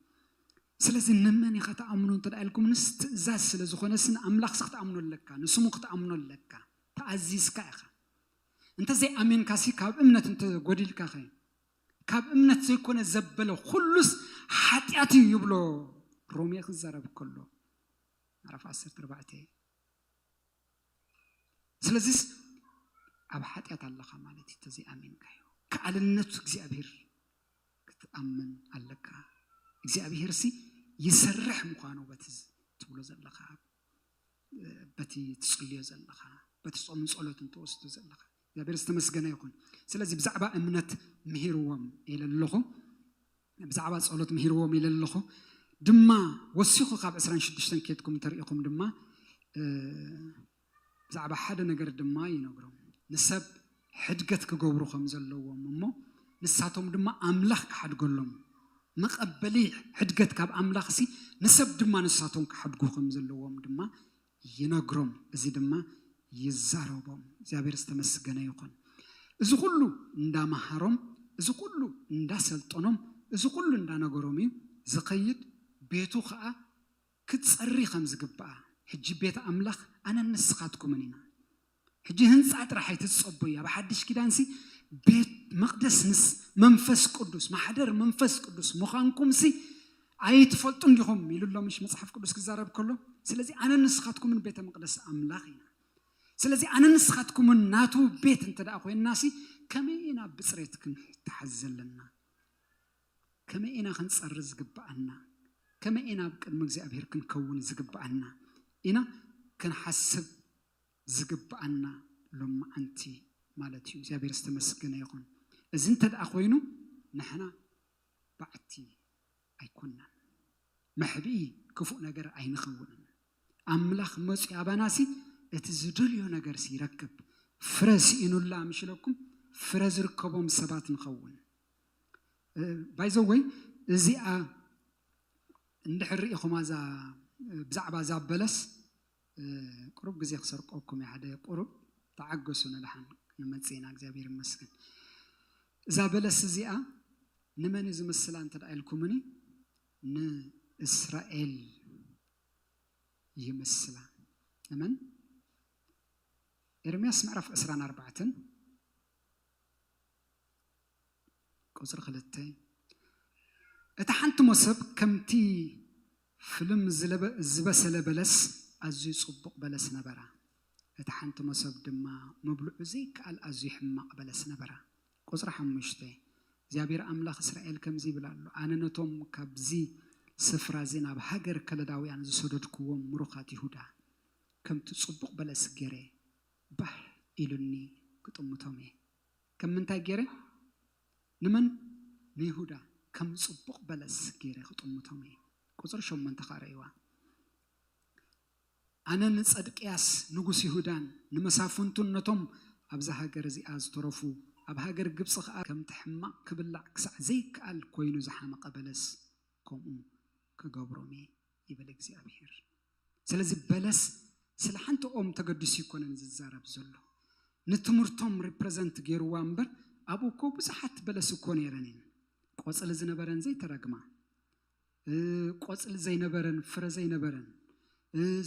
ስለዚ ንመን ኢኻ ትኣምኖ እንተ ኢልኩምንስ ትእዛዝ ስለ ዝኾነስ ንኣምላኽሲ ክትኣምኖ ኣለካ ንስሙ ክትኣምኖ ኣለካ ተኣዚዝካ ኢኻ እንተዘይኣሚንካሲ ካብ እምነት እንተጎዲልካ ኸ ካብ እምነት ዘይኮነ ዘበለ ኹሉስ ሓጢኣት እዩ ይብሎ ሮሜ ክዛረብ ከሎ ምዕራፍ ዓሰርተ ኣርባዕተ ስለዚስ ኣብ ሓጢኣት ኣለኻ ማለት እዩ ተዘይኣሚንካዮ ከኣልነቱ እግዚኣብሄር ክትኣምን ኣለካ እግዚኣብሄር ሲ ይሰርሕ ምዃኑ በቲ ትብሎ ዘለኻ በቲ ትፅልዮ ዘለኻ በቲ ፆምን ፀሎትን ተወስዶ ዘለኻ እግዚኣብሔር ዝተመስገነ ይኹን ስለዚ ብዛዕባ እምነት ምሂርዎም ኢለ ኣለኹ ብዛዕባ ጸሎት ምሂርዎም ኢለ ኣለኹ ድማ ወሲኹ ካብ ዕስራን ሽዱሽተን ኬድኩም እንተሪኢኹም ድማ ብዛዕባ ሓደ ነገር ድማ ይነግሮም ንሰብ ሕድገት ክገብሩ ከም ዘለዎም እሞ ንሳቶም ድማ ኣምላኽ ክሓድገሎም መቐበሊ ሕድገት ካብ ኣምላኽ ሲ ንሰብ ድማ ንሳቶም ክሓድጉ ከም ዘለዎም ድማ ይነግሮም እዚ ድማ ይዛረቦም እግዚኣብሔር ዝተመስገነ ይኹን እዚ ኩሉ እንዳመሃሮም እዚ ኩሉ እንዳሰልጠኖም እዚ ኩሉ እንዳነገሮም እዩ ዝኸይድ ቤቱ ኸኣ ክትጸሪ ከምዝግብኣ ሕጂ ቤት ኣምላኽ ኣነን ንስኻትኩምን ኢና ሕጂ ህንጻ ጥራሕ ኣይትጸቡይ ኣብ ሓድሽ ኪዳንሲ ቤት መቅደስ ምስ መንፈስ ቅዱስ ማሕደር መንፈስ ቅዱስ ምዃንኩምሲ ኣይትፈልጡን ዲኹም ኢሉ ኣሎ ምሽ መጽሓፍ ቅዱስ ክዛረብ ከሎ ስለዚ ኣነ ንስኻትኩምን ቤተ መቅደስ ኣምላኽ ኢና ስለዚ ኣነ ንስኻትኩምን ናቱ ቤት እንተ ደኣ ኮይንናሲ ከመይ ኢና ብፅሬት ክንተሓዝ ዘለና ከመይ ኢና ክንፀሪ ዝግብኣና ከመይ ኢና ኣብ ቅድሚ እግዚኣብሄር ክንከውን ዝግብኣና ኢና ክንሓስብ ዝግብኣና ሎምዓንቲ ማለት እዩ እግዚኣብሔር ዝተመስገነ ይኹን እዚ እንተደኣ ኮይኑ ንሕና ባዕቲ ኣይኮናን መሕብኢ ክፉእ ነገር ኣይንኸውንን ኣምላኽ መፅኡ ኣባናሲ እቲ ዝደልዮ ነገርሲ ይረክብ ፍረ ስኢኑላ ምሽለኩም ፍረ ዝርከቦም ሰባት ንኸውን ባይዘወይ እዚኣ እንድሕር ርኢኹማ እዛ ብዛዕባ እዛ በለስ ቁሩብ ግዜ ክሰርቀኩም እየ ሓደ ቁሩብ ተዓገሱ ንደሓን ክንመጽእ ኢና እግዚኣብሔር ይመስገን እዛ በለስ እዚኣ ንመን እዩ ዝምስላ እንተ ኢልኩምኒ ንእስራኤል ይምስላ ንመን ኤርምያስ ምዕራፍ ዕስራን ኣርባዕተን ቁጽሪ ክልተ፣ እታ ሓንቲ ሞሰብ ከምቲ ፍልም ዝበሰለ በለስ ኣዝዩ ጽቡቕ በለስ ነበራ፣ እታ ሓንቲ ሞሰብ ድማ ምብልዑ ዘይከኣል ኣዝዩ ሕማቕ በለስ ነበራ። ቁጽሪ ሓሙሽተ፣ እግዚኣብሄር ኣምላኽ እስራኤል ከምዚ ይብል ኣሎ፣ ኣነ ነቶም ካብዚ ስፍራዚ ናብ ሃገር ከለዳውያን ዝሰደድኩዎም ምሩኻት ይሁዳ፣ ከምቲ ጽቡቕ በለስ ገይረ ባህ ኢሉኒ ክጥምቶም እየ። ከም ምንታይ ገይረ ንመን ንይሁዳ ከም ጽቡቕ በለስ ገይረ ክጥምቶም እየ ቁጽሪ ሸሞንተ ከኣ ረእይዋ ኣነ ንጸድቅያስ ንጉስ ይሁዳን ንመሳፍንቱን ነቶም ኣብዛ ሃገር እዚኣ ዝተረፉ ኣብ ሃገር ግብጺ ከኣ ከምቲ ሕማቕ ክብላዕ ክሳዕ ዘይከኣል ኮይኑ ዝሓመቐ በለስ ከምኡ ክገብሮም እየ። ይብል እግዚኣብሄር። ስለዚ በለስ ስለ ሓንቲ ኦም ተገዲሱ ኣይኮነን ዝዛረብ ዘሎ። ንትምህርቶም ሪፕረዘንት ገይርዋ እምበር ኣብኡ እኮ ብዙሓት በለስ እኮ ነይረን እየን። ቆፅሊ ዝነበረን ዘይተረግማ ቆፅሊ ዘይነበረን ፍረ ዘይነበረን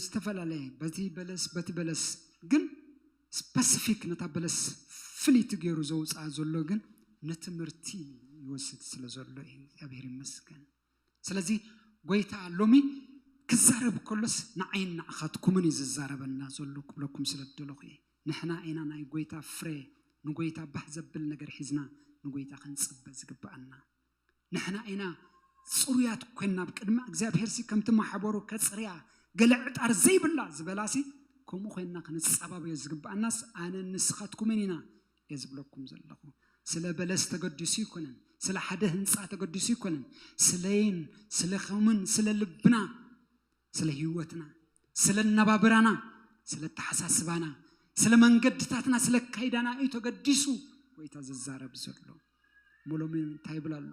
ዝተፈላለየ በቲ በለስ በቲ በለስ ግን ስፐሲፊክ ነታ በለስ ፍልይቲ ገይሩ ዘውፅኣ ዘሎ ግን ንትምህርቲ ይወስድ ስለ ዘሎ እዩ። እግዚኣብሔር ይመስገን። ስለዚ ጐይታ ሎሚ ክዛረብ ከሎስ ንዓይን ንዓኻትኩምን እዩ ዝዛረበና ዘሎ ክብለኩም ስለ ዝደለኹ እየ። ንሕና ኢና ናይ ጐይታ ፍረ ንጐይታ ባህ ዘብል ነገር ሒዝና ንጐይታ ክንጽበ ዝግብኣና። ንሕና ኢና ጽሩያት ኰንና ኣብ ቅድሚ እግዚኣብሄርሲ ከምቲ ማሕበሩ ከጽርያ ገለ ዕጣር ዘይብላ ዝበላሲ ከምኡ ኰንና ክንጻባበዮ ዝግብኣናስ ኣነን ንስኻትኩምን ኢና እየ ዝብለኩም ዘለኹ። ስለ በለስ ተገዲሱ ኣይኮነን፣ ስለ ሓደ ህንፃ ተገዲሱ ኣይኮነን፣ ስለይን ስለኹምን ስለ ልብና ስለ ህይወትና ስለ ኣነባብራና ስለ ኣተሓሳስባና ስለ መንገድታትና ስለ ኣካይዳና እዩ ተገዲሱ ጎይታ ዝዛረብ ዘሎ እሞ ሎሚ እንታይ ይብል ኣሎ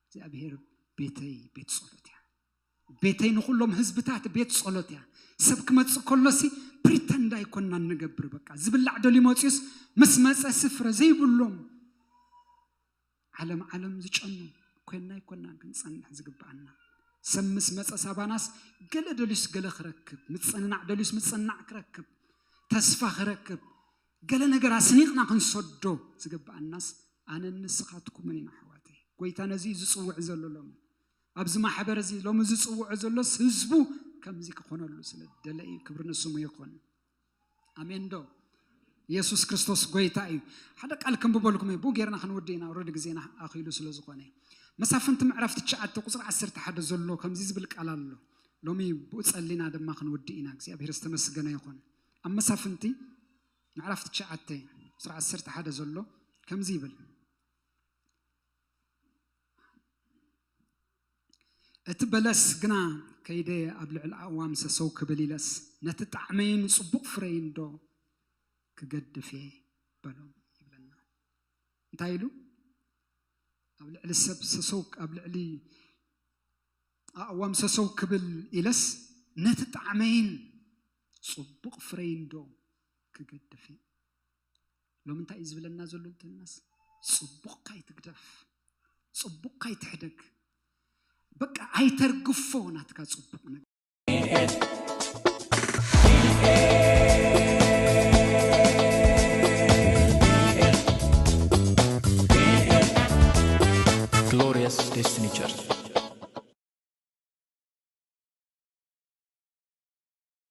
እግዚኣብሄር ቤተይ ቤት ጸሎት እያ ቤተይ ንኹሎም ህዝብታት ቤት ጸሎት እያ። ሰብ ክመጽእ ከሎሲ ፕሪተንድ ኣይኮናን ንገብር በቃ ዝብላዕ ደልዩ መጽዩስ ምስ መጸ ስፍረ ዘይብሎም ዓለም ዓለም ዝጨኑ ኮይና ኣይኮናን ክንጸንሕ ዝግብኣና ሰብ ምስ መፀ ሳባናስ ገለ ደልዩስ ገለ ክረክብ ምፅንናዕ ደልዩስ ምፅንናዕ ክረክብ ተስፋ ክረክብ ገለ ነገር ኣስኒቕና ክንሰዶ ዝግብኣናስ ኣነ ንስኻትኩምን ኢና ኣሕዋተይ ጎይታ ነዚ ዝፅውዕ ዘሎ ሎሚ ኣዚ ማሕበር እዚ ሎሚ ዝጽውዖ ዘሎስ ህዝቡ ከምዚ ክኾነሉ ስለ ዝደለ እዩ ክብሪ ንስሙ ይኹን ኣሜን ዶ ኢየሱስ ክርስቶስ ጎይታ እዩ ሓደ ቃል ክንብበልኩም እዩ ብኡ ጌርና ክንውዲ ኢና ረዲ ግዜና ኣኺሉ ስለ ዝኾነ እዩ መሳፍንቲ ምዕራፍ ትሽዓተ ቁፅሪ ዓሰርተ ሓደ ዘሎ ከምዚ ዝብል ቃል ኣሎ ሎሚ ብኡ ጸሊና ድማ ክንውዲ ኢና እግዚኣብሔር ዝተመስገነ ይኹን ኣብ መሳፍንቲ ምዕራፍ ትሽዓተ ቁፅሪ ዓሰርተ ሓደ ዘሎ ከምዚ ይብል እቲ በለስ ግና ከይደ ኣብ ልዕሊ ኣእዋም ሰሰው ክብል ኢለስ ነቲ ጣዕመይን ጽቡቕ ፍረይን ዶ ክገድፍ እየ በሎ ይብለና እንታይ ኢሉ ኣብ ልዕሊ ሰብ ሰሰው ኣብ ልዕሊ ኣእዋም ሰሰው ክብል ኢለስ ነቲ ጣዕመይን ጽቡቕ ፍረይን ዶ ክገድፍ እየ ሎሚ እንታይ እዩ ዝብለና ዘሎ እንተልናስ ፅቡቕካ ኣይትግደፍ ፅቡቕካ ኣይትሕደግ በቃ ኣይተርግፎ ናትካ ፅቡቕ ነገር Glorious Destiny Church.